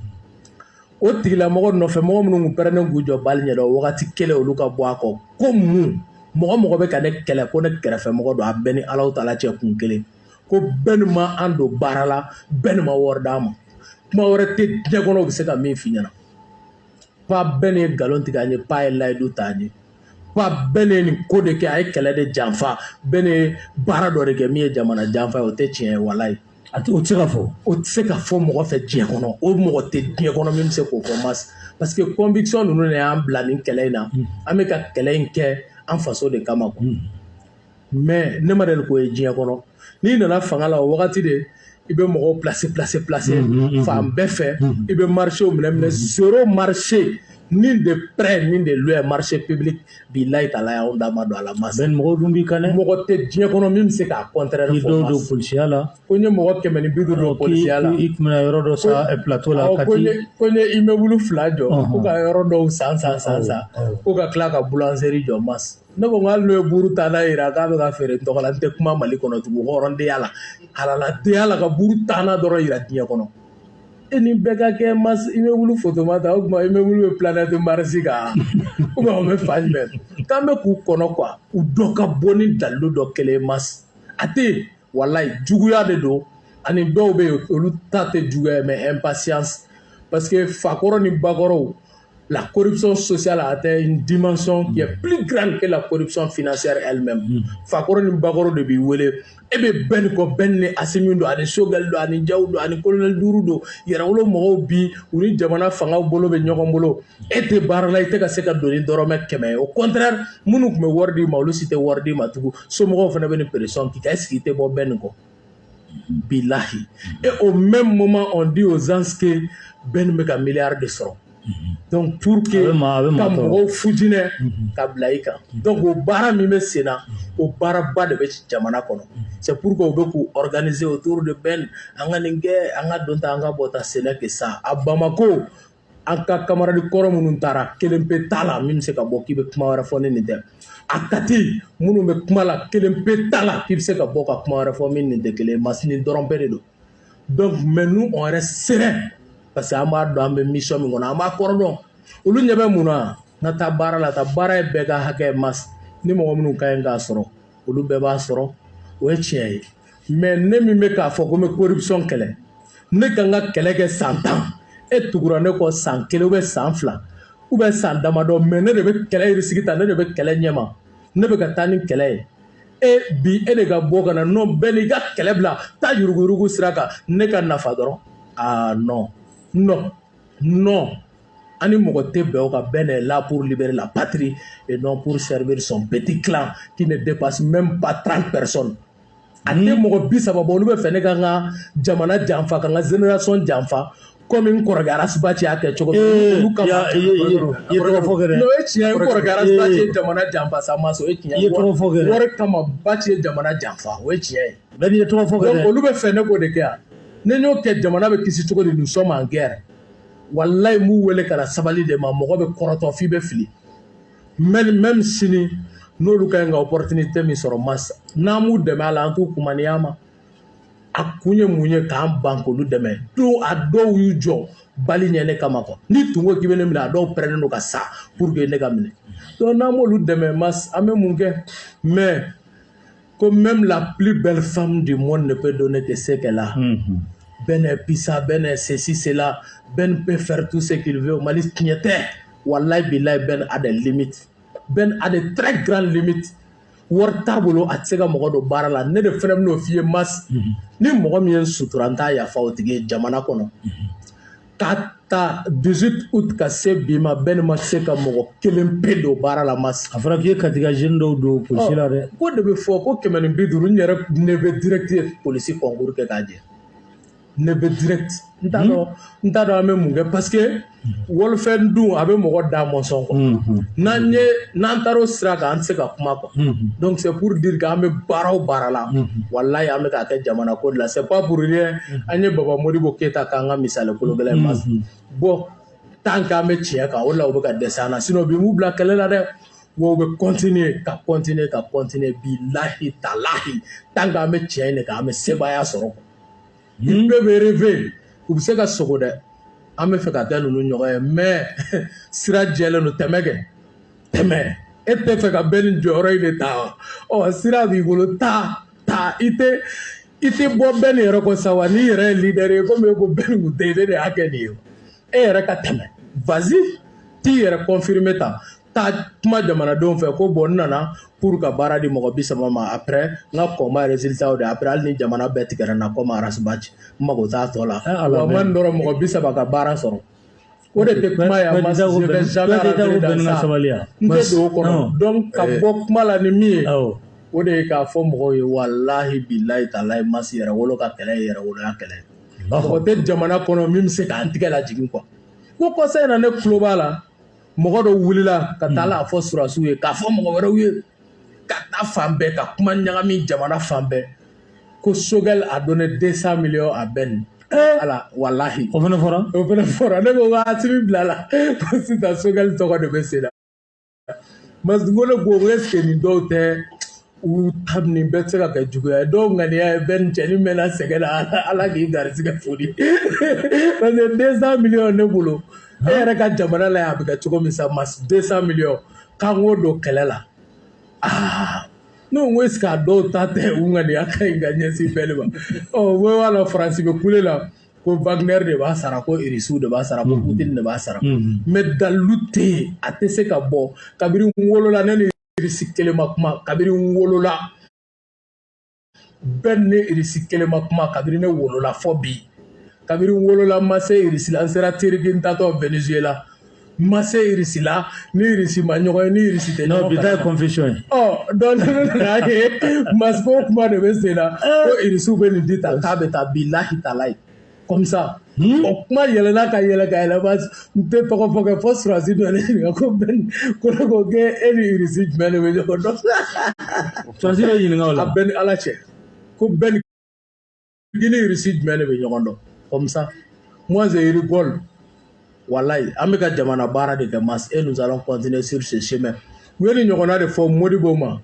o tigilamɔgɔ nɔfɛ mɔgɔ minnu tun pɛrɛnnen k'u jɔ balle ɲɛ don o wagati kelen olu ka bɔ a kɔ ko mun mɔgɔ mɔgɔ bɛ ka ne kɛlɛ ko ne kɛrɛfɛmɔgɔ don a bɛ n ni alahu taala cɛ kun kelen ko ben ma an don baara la ben ma wari d'a ma kuma wɛrɛ tɛ diɲɛ kɔnɔ u bɛ se ka min f'i ɲɛna ko a ben ye nkalon tigɛ an ye ko a ye layidu ta an ye ko a ben ye nin ko de kɛ a ye kɛlɛ de janfa ben ye baara dɔ de kɛ min ye jamana janfa ye o tɛ tiɲɛ ye walayi a tɛ o tɛ se ka fɔ o tɛ se ka fɔ mɔgɔ fɛ diɲɛ kɔnɔ o mɔgɔ tɛ diɲɛ kɔnɔ min bɛ se k'o fɔ mas parce que conviction ninnu de y'an bila nin kɛlɛ in na an bɛ ka kɛlɛ in kɛ an faso de kama quoi mais ne ma deli k'o ye diɲɛ kɔnɔ n'i nana fanga la o wagati de i bɛ mɔgɔw placer placer placer fan bɛɛ fɛ i bɛ marchéw minɛ minɛ zéro marché ni de près ni de loin marché public bilahi talayi anw da ma don a la mas mɔgɔ dun b'i kan dɛ mɔgɔ tɛ diɲɛ kɔnɔ min bɛ se k'a contraire fɔ dɔw don polisiya la ko n ye mɔgɔ kɛmɛ ni bi duuru don polisiya la i tɛmɛna yɔrɔ dɔ san plateau la kati ko n ye immeuble fila jɔ ko ka yɔrɔ dɔw san san san san ko ka tila ka boulangerie jɔ mas ne ko hali n'u ye buru tanna jira k'a bɛ ka feere n tɔgɔ la n tɛ kuma mali kɔnɔ tugu hɔrɔndenya la halaladenya la ka buru tanna dɔrɔn jira diɲɛ kɔnɔ e ni bɛɛ ka kɛ mas immeuble foto ma ta o tuma immeuble bɛ planète mars kan ou bien o bɛ fan jumɛn k'an bɛ k'u kɔnɔ quoi u dɔ ka bɔ ni dalilu dɔ kelen mas a tɛ yen walayi juguya de don ani dɔw bɛ yen olu ta tɛ juguya mais impatience parce que fakɔrɔ ni bakɔrɔw la corruption sociale a atteint une dimension qui est plus grande que la corruption financière elle-même fakɔrɔ ni bakɔrɔ de b'i wele e bɛ bɛn nin kɔ bɛn ni asimi don ani sogɛli don ani jaw don ani kolonɛli duuru don yɛrɛwolo mɔgɔw bi u ni jamana fangaw bolo bɛ ɲɔgɔn bolo e tɛ baara la i tɛ ka se ka don ni dɔrɔmɛ kɛmɛ ye au contraire minnu tun bɛ wari d'i ma olu si tɛ wari d'i ma tugun somɔgɔw fana bɛ nin pression k'i kan est-ce que i tɛ bɔ bɛn nin kɔ bilahi et au même moment on dit aux gens que bɛn nin bɛ ka miliyari de sɔrɔ donc pour que ka mɔgɔw fitinɛ ka bila i kan donc o baara min bɛ sen na o baaraba de bɛ jamana kɔnɔ c'est pourquoi u bɛ k'u organiser autour de bɛn an ka nin kɛ an ka don tan an ka bɔ tan ce n'est que ça à Bamako an ka kamaradi kɔrɔ minnu taara kelen pe t'a la min bɛ se ka bɔ k'i bɛ kuma wɛrɛ fɔ ni nin tɛ à kati minnu bɛ kuma la kelen pe t'a la k'i bɛ se ka bɔ ka kuma wɛrɛ fɔ min nin tɛ kelen masini dɔrɔn bɛn de don donc mais nous on reste serein parce que an b'a dɔn an bɛ mission min kɔnɔ an b'a kɔrɔ dɔn olu ɲɛ bɛ mun na n ka taa baara la ka baara ye bɛɛ ka hakɛ mas ni mɔgɔ minnu ka ɲi k'a sɔrɔ olu bɛɛ b'a sɔrɔ o ye tiɲɛ ye mais ne min bɛ k'a fɔ ko n bɛ corruption kɛlɛ ne ka n ka kɛlɛ kɛ san tan e tugura ne kɔ san kelen ou bien san fila ou bien san damadɔ mais ne de bɛ kɛlɛ risque ta ne de bɛ kɛlɛ ɲɛma ne bɛ ka taa ni kɛlɛ ye e bi e de ka bɔ ka na non bɛn i ka kɛlɛ bila taa yuruguyurugu sira kan ne ka nafa dɔrɔn aa non non non an ni mɔgɔ tɛ bɛn o kan bɛn est là pour libérer la patrie et non pour servir son petit clan qui ne dépasse même pas 30 personnes a tɛ mɔgɔ bi saba bɔ olu bɛ fɛ ne ka n ka jamana janfa ka n ka génération janfa komi n kɔrɔkɛ arasi bati y'a kɛ cogo min eh, olu kama n'o ye tiɲɛ ye n kɔrɔkɛ arasi bati ye jamana janfa sa ma sɔn o ye tiɲɛ ye wari kama bati ye jamana janfa o ye tiɲɛ ye bɛn i ye tɔgɔ fɔ kɛ olu bɛ fɛ ne k'o de kɛ yan ne y'o kɛ jamana bɛ kisi cogo di nous sommes en guerre walayi n b'u wele ka na sabali de ma mɔgɔ bɛ kɔrɔtɔ f'i bɛ fili mais même sini n'olu ka ɲi ka opportunité min sɔrɔ mas n'an m'u dɛmɛ a la an t'u kunmaniya ma a kun ye mun ye k'an ban k'olu dɛmɛ don a dɔw y'u jɔ balle ɲɛ ne kama quoi ni tun ko k'i bɛ ne minɛ a dɔw prêtnen don ka sa pour que ne ka minɛ donc n'an m'olu dɛmɛ mas an bɛ mun kɛ mais ko même la plus belle femme du monde ne peut donner que ce qu'elle a mm -hmm. Ben est puissant, Ben est ceci, cela, Ben peut faire tout ce qu'il veut. Mali tiɲɛ tɛ, wallahi billahi Ben a des limites. Ben a des très grandes limites. Wari t'a bolo a tɛ se ka mɔgɔ don baara la ne de fana bɛn'o f'i ye mas ni mɔgɔ min ye sutura n t'a yafa o tigi ye jamana kɔnɔ ka ta 18 août ka se bi ma Ben ma se ka mɔgɔ kelen pe don baara la mas a fɔra k'i ye Kati ka jeune dɔw don polisi la dɛ k'o de bɛ fɔ ko kɛmɛ ni bi duuru n yɛrɛ neveu direct ye polisi concours kɛ k'a jɛ neveu direct n t'a dɔn n t'a dɔn an bɛ mun kɛ parce que walifɛn dun a bɛ mɔgɔ da mɔsɔn quoi n'an ye n'an taara o sira kan an tɛ se ka kuma quoi donc c'est pour dire k'an bɛ baara o baara la walayi an bɛ k'a kɛ jamana ko de la c'est pas pour rien an ye Baba Modibo Keyita k'an ka misali kologɛlɛn ye mas bon tant k'an bɛ tiɲɛ kan o de la u bɛ ka dɛsɛ an na sinon bi m'u bila kɛlɛ la dɛ wa u bɛ continuer ka continuer ka continuer bilahi talahi tant k'an bɛ tiɲɛ de kan an bɛ sebaaya sɔrɔ n bɛɛ bɛ rêver u bɛ se ka sogo dɛ an bɛ fɛ ka kɛ ninnu ɲɔgɔn ye mais sira jɛlen don tɛmɛ kɛ tɛmɛ e tɛ fɛ ka Ben jɔyɔrɔ in de ta wa ɔ sira b'i bolo taa taa i tɛ i tɛ bɔ Ben yɛrɛ kɔ sa wa n'i yɛrɛ ye leader ye komi e ko Ben kun tɛ yen ne de y'a kɛ nin ye e yɛrɛ ka tɛmɛ vas-y t'i yɛrɛ confirmer tan taa kuma jamanadenw fɛ ko bon n nana pour ka baara di mɔgɔ bi saba ma après n ka combat résultat de après hali ni jamana bɛɛ tigɛra n na kɔmi Ras Bath n mago t'a tɔ la wa man dɔrɔn mɔgɔ bi saba ka baara sɔrɔ o de tɛ kuma ye a ma je vais jamais rentrer dans ça n tɛ don o kɔnɔ donc ka bɔ kuma la ni min ye o de ye k'a fɔ mɔgɔw ye walahi bilayi talayi mas Yɛrɛwolo ka kɛlɛ ye yɛrɛwoloya kɛlɛ mɔgɔ tɛ jamana kɔnɔ min bɛ se k'an tigɛ lajigin quoi ko kɔsa in na ne tulo b'a la mɔgɔ dɔ wulila ka taa hmm. la fɔ sɔrɔdasiw ye k'a fɔ mɔgɔ wɛrɛw ye ka taa fan bɛɛ ka kuma ɲagami jamana fan bɛɛ ko Choguel a donné 200 millions à Ben eh! ala walahi o fana fɔra o fana fɔra ne ko wa Assimi bilala ko sisan Choguel tɔgɔ de bɛ sen na mas ne ko est ce que nin dɔw tɛ u ta nin bɛɛ tɛ se ka kɛ juguya ye dɔw ŋaniya ye Ben cɛnin mɛnna sɛgɛn na ala k'i garisigɛ foli parce que deux cent millions ne bolo e yɛrɛ ka jamana la a bɛ kɛ cogo min sa mas deux cent millions k'an k'o don kɛlɛ la aa ne ko est ce que a dɔw ta tɛ u ŋaniya ka ɲi ka ɲɛsin Ben de ma ɔ u bɛɛ b'a la faransi bɛ kule la ko wagner de b'a sara ko irisiw de b'a sara ko putin de b'a sara mais dalilu tɛ yen a tɛ se ka bɔ kabini wolola ne ni irisi kelen ma kuma kabiri n wolola bɛn ni irisi kelen ma kuma kabiri ne wolola fo bi kabiri n wolola n ma se irisi la n sera teriki n taatɔ venezuela n ma se irisi la ni irisi ma ɲɔgɔn ye ni irisi tɛ ɲɔgɔn kan bi ta ye confession ye donc ne nana ye moscou kuma de bɛ sen na ko irisiw bɛ nin di tan k'a bɛ taa bilahi talayi comme ça hmm? o kuma yɛlɛna ka yɛlɛ ka yɛlɛma n tɛ tɔgɔ fɔ kɛ fo surasi dɔ ne ɲininka ko bɛn ko ne ko k'e e ni irisi jumɛn de bɛ ɲɔgɔn dɔn surasi dɔ ɲininka o la a bɛɛ ni ala cɛ ko bɛn ni irisi jumɛn de bɛ ɲɔgɔn dɔn comme ça moi je rigole walahi an bɛ ka jamana baara de kɛ mas et nous allons continuer sur ce chemin u ye nin ɲɔgɔnna de fɔ modibo ma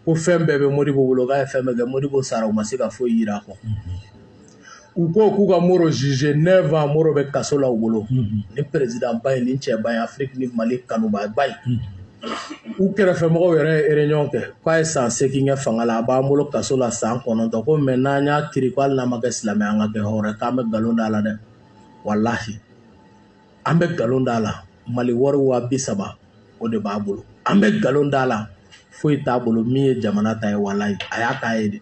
ko fɛn bɛɛ bɛ modibo bolo k'a ye fɛn bɛɛ kɛ modibo sara u ma se ka foyi jira a kɔ u ko k'u ka mori juger neuf ans mori bɛ kaso la u bolo nin perezidanba ye nin cɛba ye afiriki ni mali kanubaa ba ye u kɛrɛfɛmɔgɔw yɛrɛ ye réunion kɛ k'a ye san segin kɛ fanga la a b'an bolo kaso la san kɔnɔntɔn ko mais n'an y'a kiri ko hali n'an ma kɛ silamɛ an ka kɛ hɔrɔn k'an bɛ nkalon d'a la dɛ walahi an bɛ nkalon d'a la mali wari waa bi saba o de b'a bolo an bɛ nkalon d'a la foyi t'a bolo min ye jamana ta ye walayi a y'a k'a ye de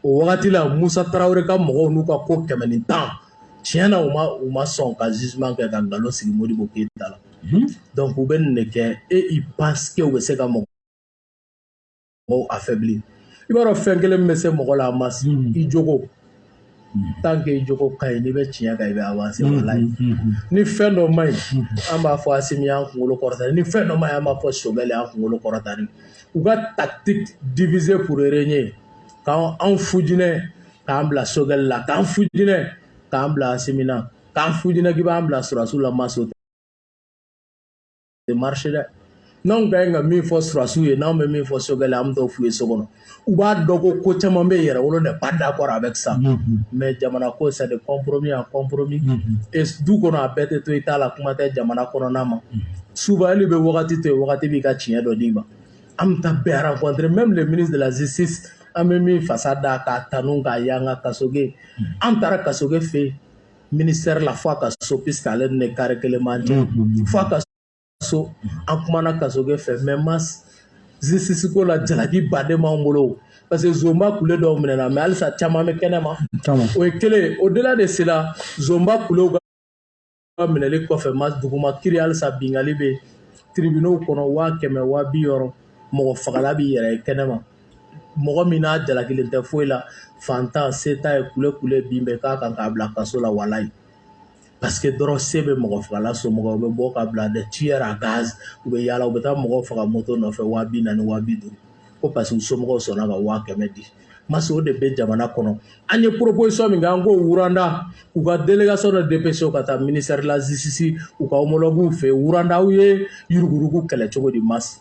o wagati la musa tarawele ka mɔgɔw n'u ka ko kɛmɛ ni tan tiɲɛ na u ma u ma sɔn ka jugement kɛ ka nkalon sigi modibo keyita la donc u bɛ nin de kɛ et ils pensent que u bɛ se ka mɔgɔ mɔgɔw affaiblir i b'a dɔn fɛn kelen min bɛ se mɔgɔ la mas hmm. i jogo hmm. tant que i jogo ka ɲi n'i bɛ tiɲɛ kan i bɛ avancer hmm, walayi ni fɛn dɔ ma ɲi an b'a fɔ asimi y'an kunkolo kɔrɔta ni fɛn dɔ ma ɲi an b'a fɔ sogɛli y'an kunkolo kɔrɔta ni u ka tactique diviser pour régner k'an fujinɛ k'an bila sogɛli la k'an fujinɛ k'an bila asimi na k'an fujinɛ k'i b'an bila surasiw la mas o tɛ tɛ marcher dɛ n'anw ka ɲi ka min fɔ surasiw ye n'anw bɛ min fɔ sogɛli an bɛ t'o f'u ye so kɔnɔ u b'a dɔn ko ko caman bɛ yɛrɛwolo n'est pas d'accord avec ça mais jamana ko c'est de compromis en compromis du kɔnɔ a bɛɛ tɛ to i ta la kuma tɛ jamana kɔnɔna mas souvent hali bɛ wagati to yen wagati b'i ka tiɲɛ dɔ d'i ma an bɛ taa bɛɛ rencontrer même le ministre de la justice an bɛ min fasa da k'a tanu k'a y'an ka kasoge an taara kasoge fɛ yen ministère la fo a ka so puisque ale ni ne carré kelen b'an cɛ fo a ka so an kumana kasoge fɛ mais mas justice ko la jalakiba de b'an bolo parce que zonba kule dɔw minɛna mais halisa caman bɛ kɛnɛ ma o ye kelen au-delà de cela zonba kulew ka minɛli kɔfɛ mas duguma kiri halisa bingali bɛ tribunaux kɔnɔ waa kɛmɛ waa bi wɔɔrɔ mɔgɔfagala b'i yɛrɛ ye kɛnɛ ma mɔgɔ min n'a jalakilen tɛ foyi la fantan se t'a ye kule kule bin bɛ k'a kan k'a bila kaso la walayi parce que dɔrɔn se bɛ mɔgɔ fagala somɔgɔw bɛ bɔ k'a bila des tueurs à gages u bɛ yaala u bɛ taa mɔgɔ faga moto nɔfɛ waa bi naani waa bi duuru ko parce que u somɔgɔw sɔnna ka waa kɛmɛ di masi o de bɛ jamana kɔnɔ an ye proposition min kɛ an ko Rwanda u ka délégation dɔ dépêcher ka taa ministère de la justice u ka homologues fɛ Rwanda u ye yuruguyurugu kɛlɛ cogo di masi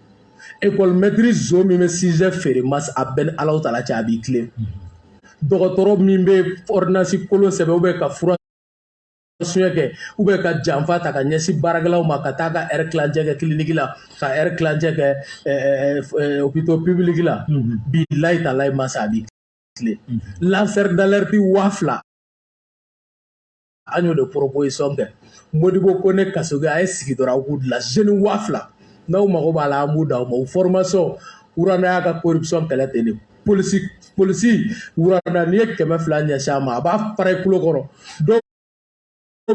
ekɔli mɛtiri zon min bɛ sujet feere masa a bɛ n ni alahu taala cɛ a b'i tilen dɔgɔtɔrɔ min bɛ ordonnance kolon sɛbɛn ou bien ka fura suɲɛ kɛ ou bien ka janfa ta ka ɲɛsin baarakɛlaw ma ka taa ka heure tilancɛ kɛ clinique la ka heure tilancɛ kɛ hôpitaux publics la bilayi talayi masa a b'i tilen lanceur d'alerte waa fila an y'o de proposition kɛ modibo kone kasoge a ye sigi dɔrɔn aw k'u dilan jeunes waa fila n'aw mago b'a la an b'u d'aw ma u formation Rwanda y'a ka corruption kɛlɛ ten de polisi polisi Rwanda n'i ye kɛmɛ fila ɲɛsin a ma a b'a fara i kulo kɔrɔ dɔw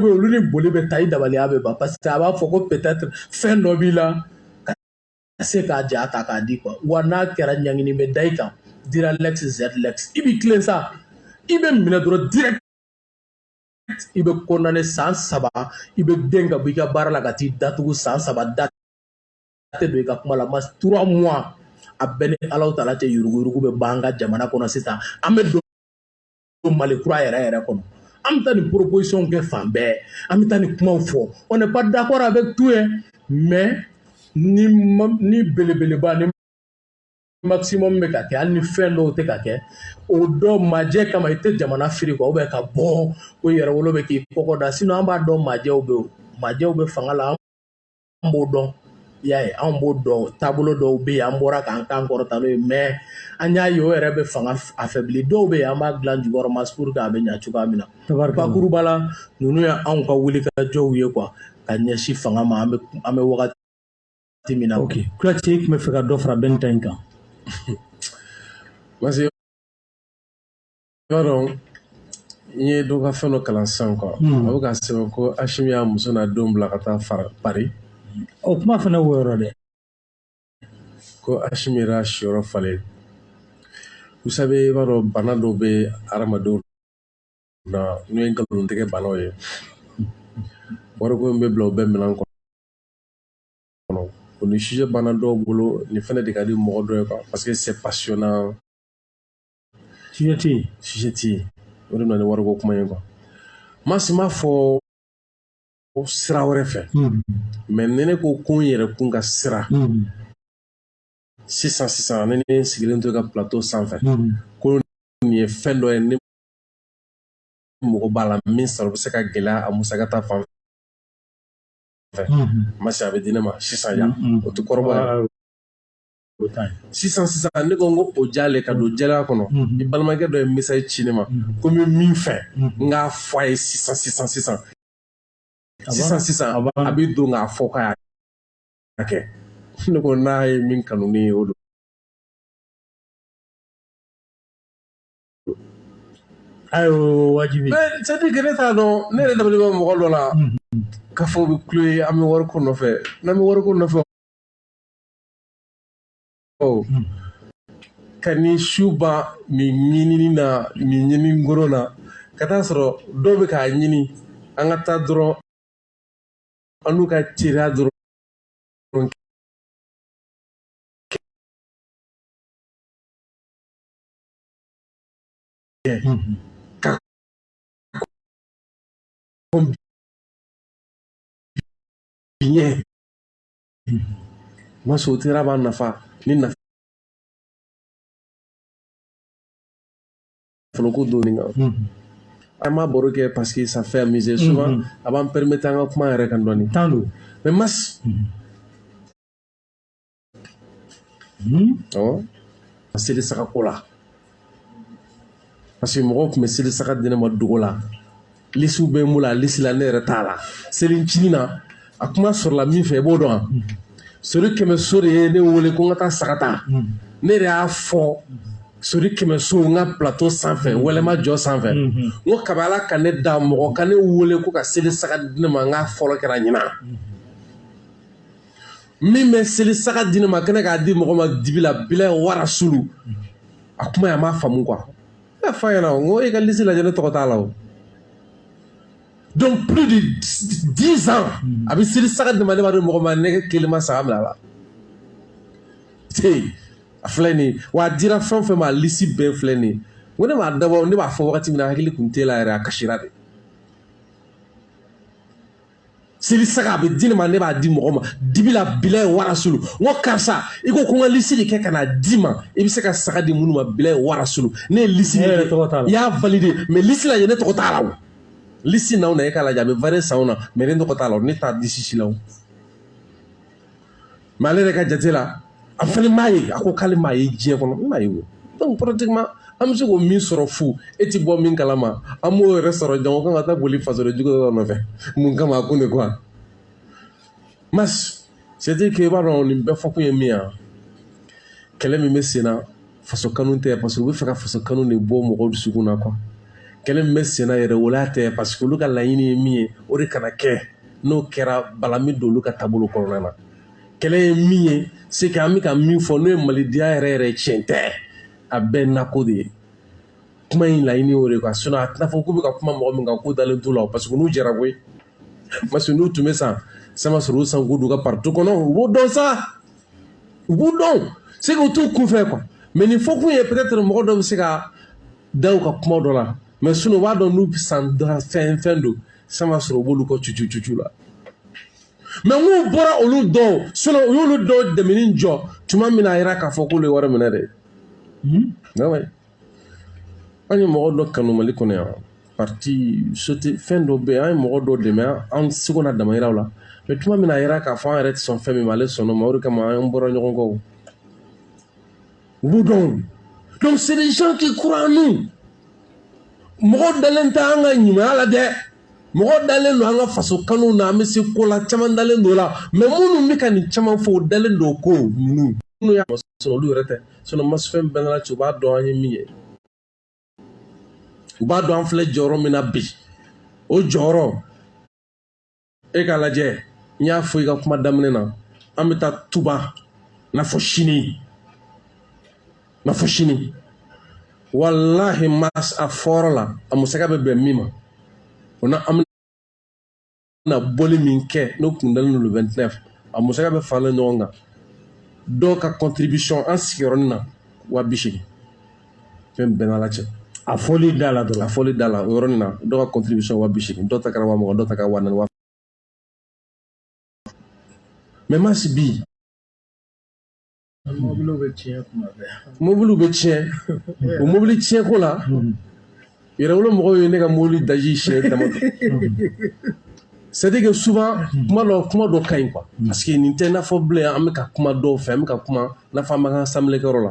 bɛ olu ni boli bɛ taa i dabaliya bɛ ban parce que a b'a fɔ ko peut-être fɛn dɔ b'i la ka se k'a ja ta k'a di quoi wa n'a kɛra ɲangini bɛ da i kan dura lex sed lex i b'i tilen sa i bɛ minɛ dɔrɔn direct i bɛ condamné san saba i bɛ gɛn ka bɔ i ka baara la ka t'i datugu san saba da tɛ don i ka kuma la masa trois mois a bɛ n ni alahu taala cɛ yuruguyurugu bɛ ban an ka jamana kɔnɔ sisan an bɛ don mali kura yɛrɛ yɛrɛ kɔnɔ an bɛ taa nin proposition kɛ fan bɛɛ an bɛ taa nin kumaw fɔ on n'est pas d'accord avec tout ye mais ni ni belebeleba ni maximum bɛ ka kɛ hali ni fɛn dɔw tɛ ka kɛ o dɔ majɛ kama i tɛ jamana firi quoi ou bien ka bɔ ko yɛrɛwolo bɛ k'i kɔgɔ da sinon an b'a dɔn majɛw bɛ yen majɛw bɛ fanga la an b'o dɔn y'a ye anw b'o dɔn taabolo dɔw bɛ yen an bɔra k'an kan kɔrɔta n'o ye mais an y'a ye o yɛrɛ bɛ fanga affaiblir dɔw bɛ yen an b'a dilan jukɔrɔ masa pour que a bɛ ɲɛ cogoya min na bakuruba la ninnu ye anw ka wulikajɔw ye quoi ka ɲɛsin fanga ma an bɛ wagati min na ok kuyate i tun bɛ fɛ ka dɔ fara bɛn ta in kan parce que i b'a dɔn n ye dɔ ka fɛn dɔ kalan sisan quoi a bɛ ka sɛbɛn ko Asimi y'a muso n'a denw bila ka taa Paris o kuma fana wo yɔrɔ dɛ ko Asimi yɛrɛ y'a siyɔrɔ falen vous savez i b'a dɔn bana dɔw bɛ hadamadenw na n'o ye nkalontigɛ banaw ye wariko in bɛ bila u bɛɛ minɛn kɔnɔ kɔnɔ o ni sujet banna dɔw bolo nin fana de ka di mɔgɔ dɔ ye quoi parce que c'est passionnant sujet tɛ yen sujet tɛ yen o de nana ni wariko kuma ye quoi maa si m'a fɔ sira wɛrɛ fɛ hmm. mais ni ne ko ko n yɛrɛ kun ka sira hmm. sisan sisan ne ne sigilen don n ka plateau sanfɛ hmm. ko nin ye fɛn dɔ ye ne mago b'a la min sɔrɔ bɛ se ka gɛlɛya a musaka ta fan fɛ ma se a bɛ di ne ma sisan yan o tɛ kɔrɔbɔ sisan sisan ne ko n ko o jale ka don jɛlenya kɔnɔ n balimakɛ dɔ ye message ci ne ma ko n bɛ min fɛ n k'a fɔ a ye sisan sisan sisan sisan sisan a bɛ don k'a fɔ k'a y'a kɛ ne ko n'a ye min kanu ne ye o don ayi wajibi c'est à dire que ne t'a dɔn ne yɛrɛ dabali bɛ mɔgɔ dɔw la k'a fɔ u bɛ kulo ye an bɛ wariko nɔfɛ n'an bɛ wariko nɔfɛ ka ni su ban nin ɲinini na nin ɲini ngoro na ka taa sɔrɔ dɔw bɛ k'a ɲini an ka taa dɔrɔn an n'u ka teriya dɔrɔn ɲɛ masɔrɔ teriya b'a nafa ni nafa nafoloko donni kan an b'a baro kɛ parce que ça fait amuser souvent a b'an permettre an ka kuma yɛrɛ kan dɔɔni tan don mais mas Hmm? Awɔ. A seli saga ko la. Parce que mɔgɔw tun bɛ seli saga di ne ma dogo la. Lisiw bɛ n bolo a lisi la ne yɛrɛ t'a la. Selincini na a kuma sɔrɔla min fɛ i b'o dɔn wa? Sori Kɛmɛso de ye ne wele ko n ka taa saga ta. Ne yɛrɛ y'a fɔ Sori Kɛmɛso n ka plateau sanfɛ wɛlɛma jɔ sanfɛ. N ko kabi Ala ka ne dan mɔgɔ ka ne wele ko ka seli saga di ne ma n k'a fɔlɔ kɛra ɲinan. min bɛ seli saga di ne ma kɛnɛ k'a di mɔgɔ ma dibi la bilahi wa rasulu a kuma ye a m'a faamu quoi ne y'a fɔ a ɲɛna n ko e ka lisi lajɛ ne tɔgɔ t'a la o donc plus de dix ans a bɛ seli saga di ma ne b'a dɔn mɔgɔ ma ne kelen ma saga minɛ a la dɛ a filɛ nin ye wa a dira fɛn o fɛn ma a lisi bɛɛ filɛ nin ye n ko ne m'a dabɔ ne b'a fɔ wagati min na hakili tun t'e la yɛrɛ a kasira dɛ seli saga a bɛ di ne ma ne b'a di mɔgɔ ma dibi la bilaye warasulu n ko karisa i ko ko n ka lisi de kɛ ka n'a d'i ma i bɛ se ka saga di minnu ma bilaye warasulu ne ye lisi de kɛ i y'a validé mais lisi lajɛ ne tɔgɔ t'a la o lisi na o na e k'a lajɛ a bɛ varier san o na mais ne tɔgɔ t'a la o ne t'a lisi si la o mais ale yɛrɛ ka jate la a fana m'a ye a ko k'ale m'a ye diɲɛ kɔnɔ n m'a ye o donc pratiquement an bɛ se k'o min sɔrɔ fu e ti bɔ min kalama an m'o yɛrɛ sɔrɔ jango k'an ka taa boli fasoden jugu dɔ nɔfɛ mun kama a kun de quoi mas c'est à dire que i b'a dɔn nin bɛɛ fɔkun ye min ye kɛlɛ min bɛ sen na faso kanu tɛ parce que u bɛ fɛ ka faso kanu de bɔ mɔgɔw dusukun na quoi kɛlɛ min bɛ senna yɛrɛ o la tɛ parce que olu ka laɲini ye min ye o de kana kɛ n'o kɛra bala min don olu ka taabolo kɔnɔna na kɛlɛ ye min ye c'est que an bɛ ka min fɔ n'o ye malidenya yɛrɛ yɛrɛ tiɲɛ tɛ a bɛɛ nako de ye kuma in laɲini y'o de quoi sinon a tɛna fɔ k'u bɛ ka kuma mɔgɔ min kan k'u dalen t'u la o parce que n'u jɛra koyi parce que n'u tun bɛ san sama sɔrɔ u san k'u don u ka parti kɔnɔ u b'o dɔn sa u b'u dɔn c'est qu'u t'u kunfɛ quoi mais nin fɔkun ye peut-être mɔgɔ dɔ bɛ se ka da u ka kuma dɔ la mais sinon u b'a dɔn n'u san fɛn fɛn don san b'a sɔrɔ u b'olu kɔ cucu cucu la mais n'u bɔra olu dɔw sinon u y'olu dɔw dɛmɛni jɔ tuma min na a yira k'a fɔ k'olu ye wari minɛ dɛ an ye mɔgɔ dɔ kanu mali kɔnɔ yan parti sote fɛn dɔ bɛ an ye mɔgɔ dɔ dɛmɛ an seko n'an damayiraw la mais tuma min na a yira k'a fɔ an yɛrɛ tɛ sɔn fɛn min ma ale sɔnn'o ma o de kama an bɔra ɲɔgɔn kɔ u b'u dɔn donc c'est des gens qui croient en nous mɔgɔ dalen tɛ an ka ɲumanya la dɛ mɔgɔ dalen don an ka faso kanu na an bɛ se ko la caman dalen don o la mais minnu bɛ ka nin caman fɔ o dalen don o ko ninnu minnu y'a sɔrɔ olu yɛrɛ tɛ sinon masi fɛn bɛɛ n'ala cɛ u b'a dɔn an ye min ye u b'a dɔn an filɛ jɔyɔrɔ min na bi o jɔyɔrɔ e k'a lajɛ n y'a fɔ i ka kuma daminɛ na an bɛ taa tuba n'a fɔ sini n'a fɔ sini walahi mas a fɔra la a musaka bɛ bɛn min ma o na an na bɔli min kɛ n'o kun dalen don le 29 a musaka bɛɛ faralen ɲɔgɔn kan dɔw ka contribution an sigiyɔrɔnin na wa bi seegin fɛn bɛɛ n'ala cɛ a fɔli da la dɔrɔn a fɔli da la o yɔrɔnin na dɔw ka contribution wa bi seegin dɔw ta kɛra wa mugan dɔw ta kɛra wa naani wa mais masi bi mobiliw bɛ tiɲɛ tuma bɛɛ mobiliw bɛ tiɲɛ o mobili tiɲɛko la yɛrɛwolo mɔgɔw ye ne ka mobili daji siɲɛ dama c'est à dire que souvent kuma dɔ kuma dɔ ka ɲi quoi parce que nin tɛ n'a fɔ bilen an bɛ ka kuma dɔw fɛ an bɛ ka kuma n'a fɔ an b'an ka assemblée kɛyɔrɔ la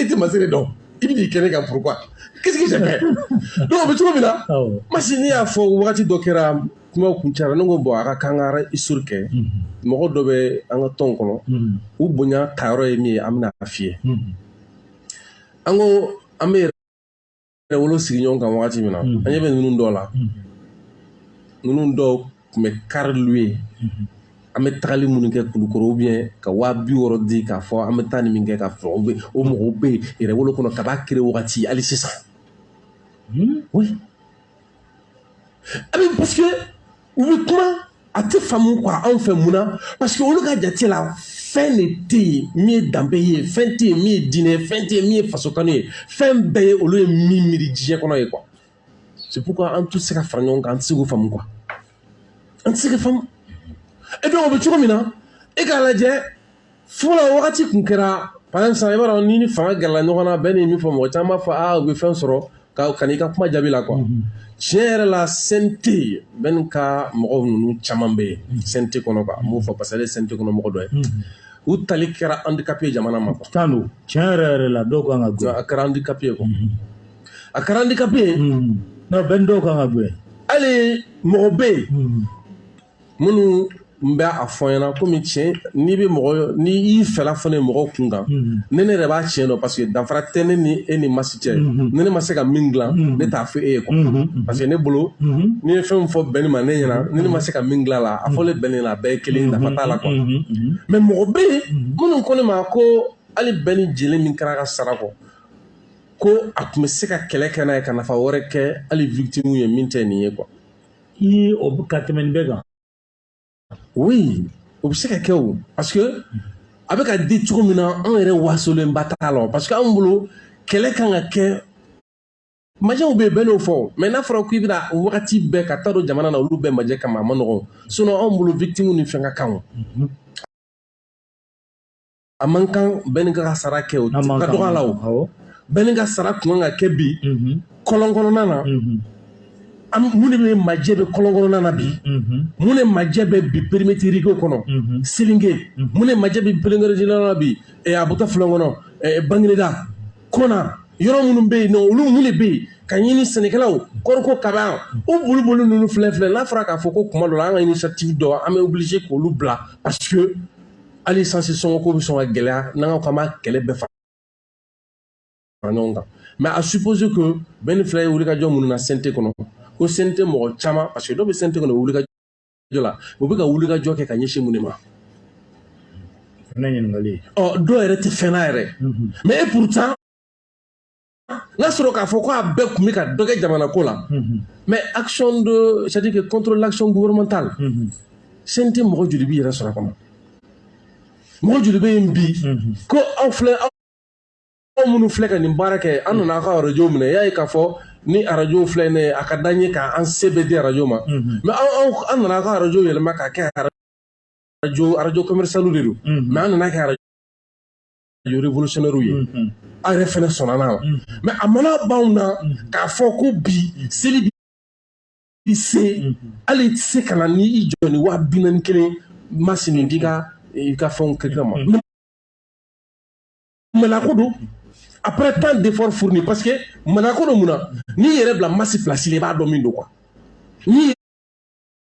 e tɛ masiri dɔn i bɛ n'i kɛ ne kan pourquoi qu'est-ce que j'ai fait donc o bɛ cogo min na awɔ masi ne y'a fɔ wagati dɔ kɛra kuma kun cara ne ko bon a ka kan ka histoire kɛ mɔgɔ dɔ bɛ an ka tɔn kɔnɔ Mhm. u bonya tayɔrɔ ye min ye an bɛna a f'i ye Mhm. an ko an bɛ Yɛrɛwolo sigi ɲɔgɔn kan wagati min na an ɲɛ bɛ ninnu dɔw la ninnu dɔw tun bɛ car louer an bɛ tagali minnu kɛ kulukoro ou bien ka waa bi wɔɔrɔ di k'a fɔ an bɛ taa ni min kɛ ka fɔ o bɛ o mɔgɔw bɛ Yɛrɛwolo kɔnɔ kab'a créé wagati hali sisan a bɛ parce que u bɛ kuma a tɛ faamu quoi anw fɛ mun na parce que olu ka jate la fɛn de tɛ yen min ye danbe ye fɛn tɛ yen min ye diinɛ ye fɛn tɛ yen min ye fasokanu ye fɛn bɛɛ ye olu ye min miiri diɲɛ kɔnɔ ye quoi c'est pourquoi an tɛ se ka fara ɲɔgɔn kan an tɛ se k'o faamu quoi an tɛ se ka faamu et donc o bɛ cogo min na e k'a lajɛ fɔlɔ wagati kun kɛra par exemple sisan i b'a dɔn ni ni fanga gɛrɛla ɲɔgɔn na bɛɛ ni min fɔ mɔgɔ caman b'a fɔ aa u bɛ fɛn sɔrɔ ka ka n'i ka kuma jaabi la quoi mhm. tiɲɛ yɛrɛ la CNT bɛn ka mɔgɔ ninnu caman bɛ yen mhm. CNT kɔnɔ quoi n b'o fɔ parce que ale ye CNT kɔnɔ mɔgɔ dɔ ye mhm. u tali kɛra handicap ye jamana ma quoi tan don tiɲɛ yɛrɛ yɛrɛ la dɔw kan ka gɛn a kɛra handicap ye quoi a kɛra handicap ye non bɛn dɔw kan ka gɛn hali mɔgɔ bɛ yen minnu n bɛ a fɔ ɲɛna komi tiɲɛ n'i bɛ mɔgɔ n'i y'i fɛla fɔ ne ye mɔgɔw kun kan mm-hmm. ne ne yɛrɛ b'a tiɲɛ dɔn parce que danfara tɛ ne ni e ni masi cɛ mm-hmm. ni ne ma se ka min dilan mm-hmm. ne t'a fɔ e ye quoi parce que ne bolo n'i ye fɛn fɔ Bɛni ma ne ɲɛna ni ne ma se ka min dilan la a fɔlen Bɛni la a bɛɛ ye kelen nafa t'a la quoi mais mɔgɔ bɛ yen minnu ko ne ma ko hali Bɛni jeli min kɛra ka sara kɔ ko a tun bɛ se ka kɛlɛ kɛ n'a ye ka nafa wɛrɛ kɛ hali victime ye min tɛ nin ye quoi i o ka tɛmɛ nin bɛɛ kan oui o bɛ se ka kɛ o parce que a bɛ ka di cogo min na anw yɛrɛ wasolenba t'a la parce que anw bolo kɛlɛ kan ka kɛ majɛw bɛ yen bɛɛ n'o fɔ mais n'a fɔra k'i bɛna wagati bɛɛ ka taa don jamana na olu bɛɛ majɛ kama a ma nɔgɔn sinon anw bolo victime ni fɛn ka kan o a man kan Bɛni ka sara kɛ o ka dɔgɔ a la o Bɛni ka sara kun kan ka kɛ bi kɔlɔn kɔnɔna na mun de bɛ majɛ bɛ kɔlɔn kɔnɔna na bi mun de majɛ bɛ bi périmètre kɔnɔ Selinge mun de majɛ bɛ périmètre na bi a bɛ taa filan kɔnɔ Bagineda kɔnɔ yɔrɔ minnu bɛ yen nɔ olu mun de bɛ yen ka ɲini sɛnɛkɛlaw kɔriko kaba o boli boli ninnu filɛ filɛ n'a fɔra k'a fɔ ko kuma dɔ la an ka initiative dɔ an bɛ obligé k'olu bila parce hali sansi sɔngɔko bɛ sɔn ka gɛlɛya n'an ka k'an b'a kɛlɛ bɛɛ fara ɲɔgɔn kan mais à supposer que bɛɛ ni fila ye wulikajɔ minnu na CNT kɔnɔ ko CNT mɔgɔ caman parce que dɔw bɛ CNT kɔnɔ wulikajɔ la u bɛ ka wulikajɔ kɛ ka ɲɛsin mun de ma ɔ dɔw yɛrɛ tɛ fɛn na yɛrɛ mais et pourtant n'a sɔrɔ k'a fɔ ko a bɛɛ tun bɛ ka dɔ kɛ jamana ko la mais action de c'est à dire que contre l'action gouvernementale CNT mɔgɔ joli b'i yɛrɛ sɔrɔ a kɔnɔ mɔgɔ joli bɛ yen bi ko aw filɛ aw aw minnu filɛ ka nin baara kɛ an nana aw ka arajo minɛ y'a ye k'a fɔ ni arajo filɛ nin ye a ka d'an ye k'an se bɛɛ di arajo ma mais aw aw an nana aw ka arajo yɛlɛma k'a kɛ arajo arajo commercial de don mais an nana kɛ arajo révolutionnaire ye aw yɛrɛ fɛnɛ sɔnna n'a la mais a mana b'anw na k'a fɔ ko bi seli bi i se hali tɛ se ka na ni i jɔ ni waa bi naani kelen masini di ka i ka fɛnw kɛ mais maloko don après tant d'effort fourni parce que maloko don mun na n'i yɛrɛ bila masi place la i b'a dɔn min don quoi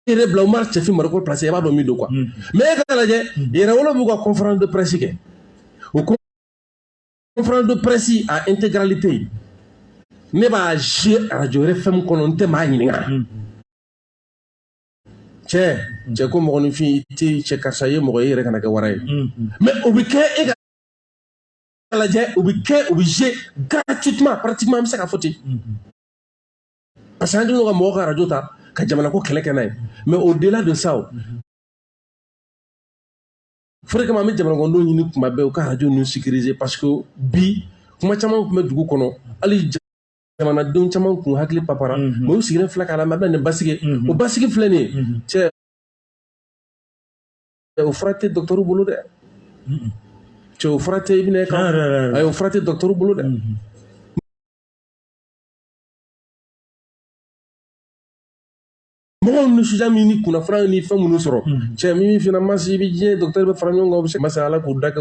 yɛrɛ bila umar cɛfin mariko place i b'a dɔn min don quoi mm. mais e ka lajɛ mm. yɛrɛwolo b'u ka conférence de presse kɛ o conférence de presse a intégralité ne b'a jouer radio RFM kɔnɔ n tɛ maa ɲininka mm. cɛ cɛ ko mɔgɔninfin i tɛ cɛ karisa ye mɔgɔ ye i yɛrɛ kana kɛ wara ye mais o bɛ kɛ e ka lajɛ o bɛ kɛ o bɛ jouer gratuitement pratiquement an bɛ se k'a fɔ ten parce que an kɛlen don ka mɔgɔ ka arajo ta ka jamana ko kɛlɛ kɛ n'a ye mais au delà de ça o de kama an bɛ jamanakɔnɔdenw ɲini kuma bɛɛ u ka arajo ninnu sécuriser parce que bi kuma caman tun bɛ dugu kɔnɔ hali jamanadenw caman kun hakili papara mais u sigilen filɛ k'a lamɛn a bɛna nin basigi o basigi filɛ nin ye cɛ o fura tɛ dɔgɔtɔrɔ bolo dɛ cɛ o fura tɛ i bɛna kan ayi o fura tɛ dɔgɔtɔrɔ bolo dɛ mɔgɔw ni suja min ni kunnafara ni fɛn minnu sɔrɔ hmm. cɛ min fana masi i bɛ diɲɛ docteur bɛɛ fara ɲɔgɔn kan u bɛ se masa ala k'u da kɛ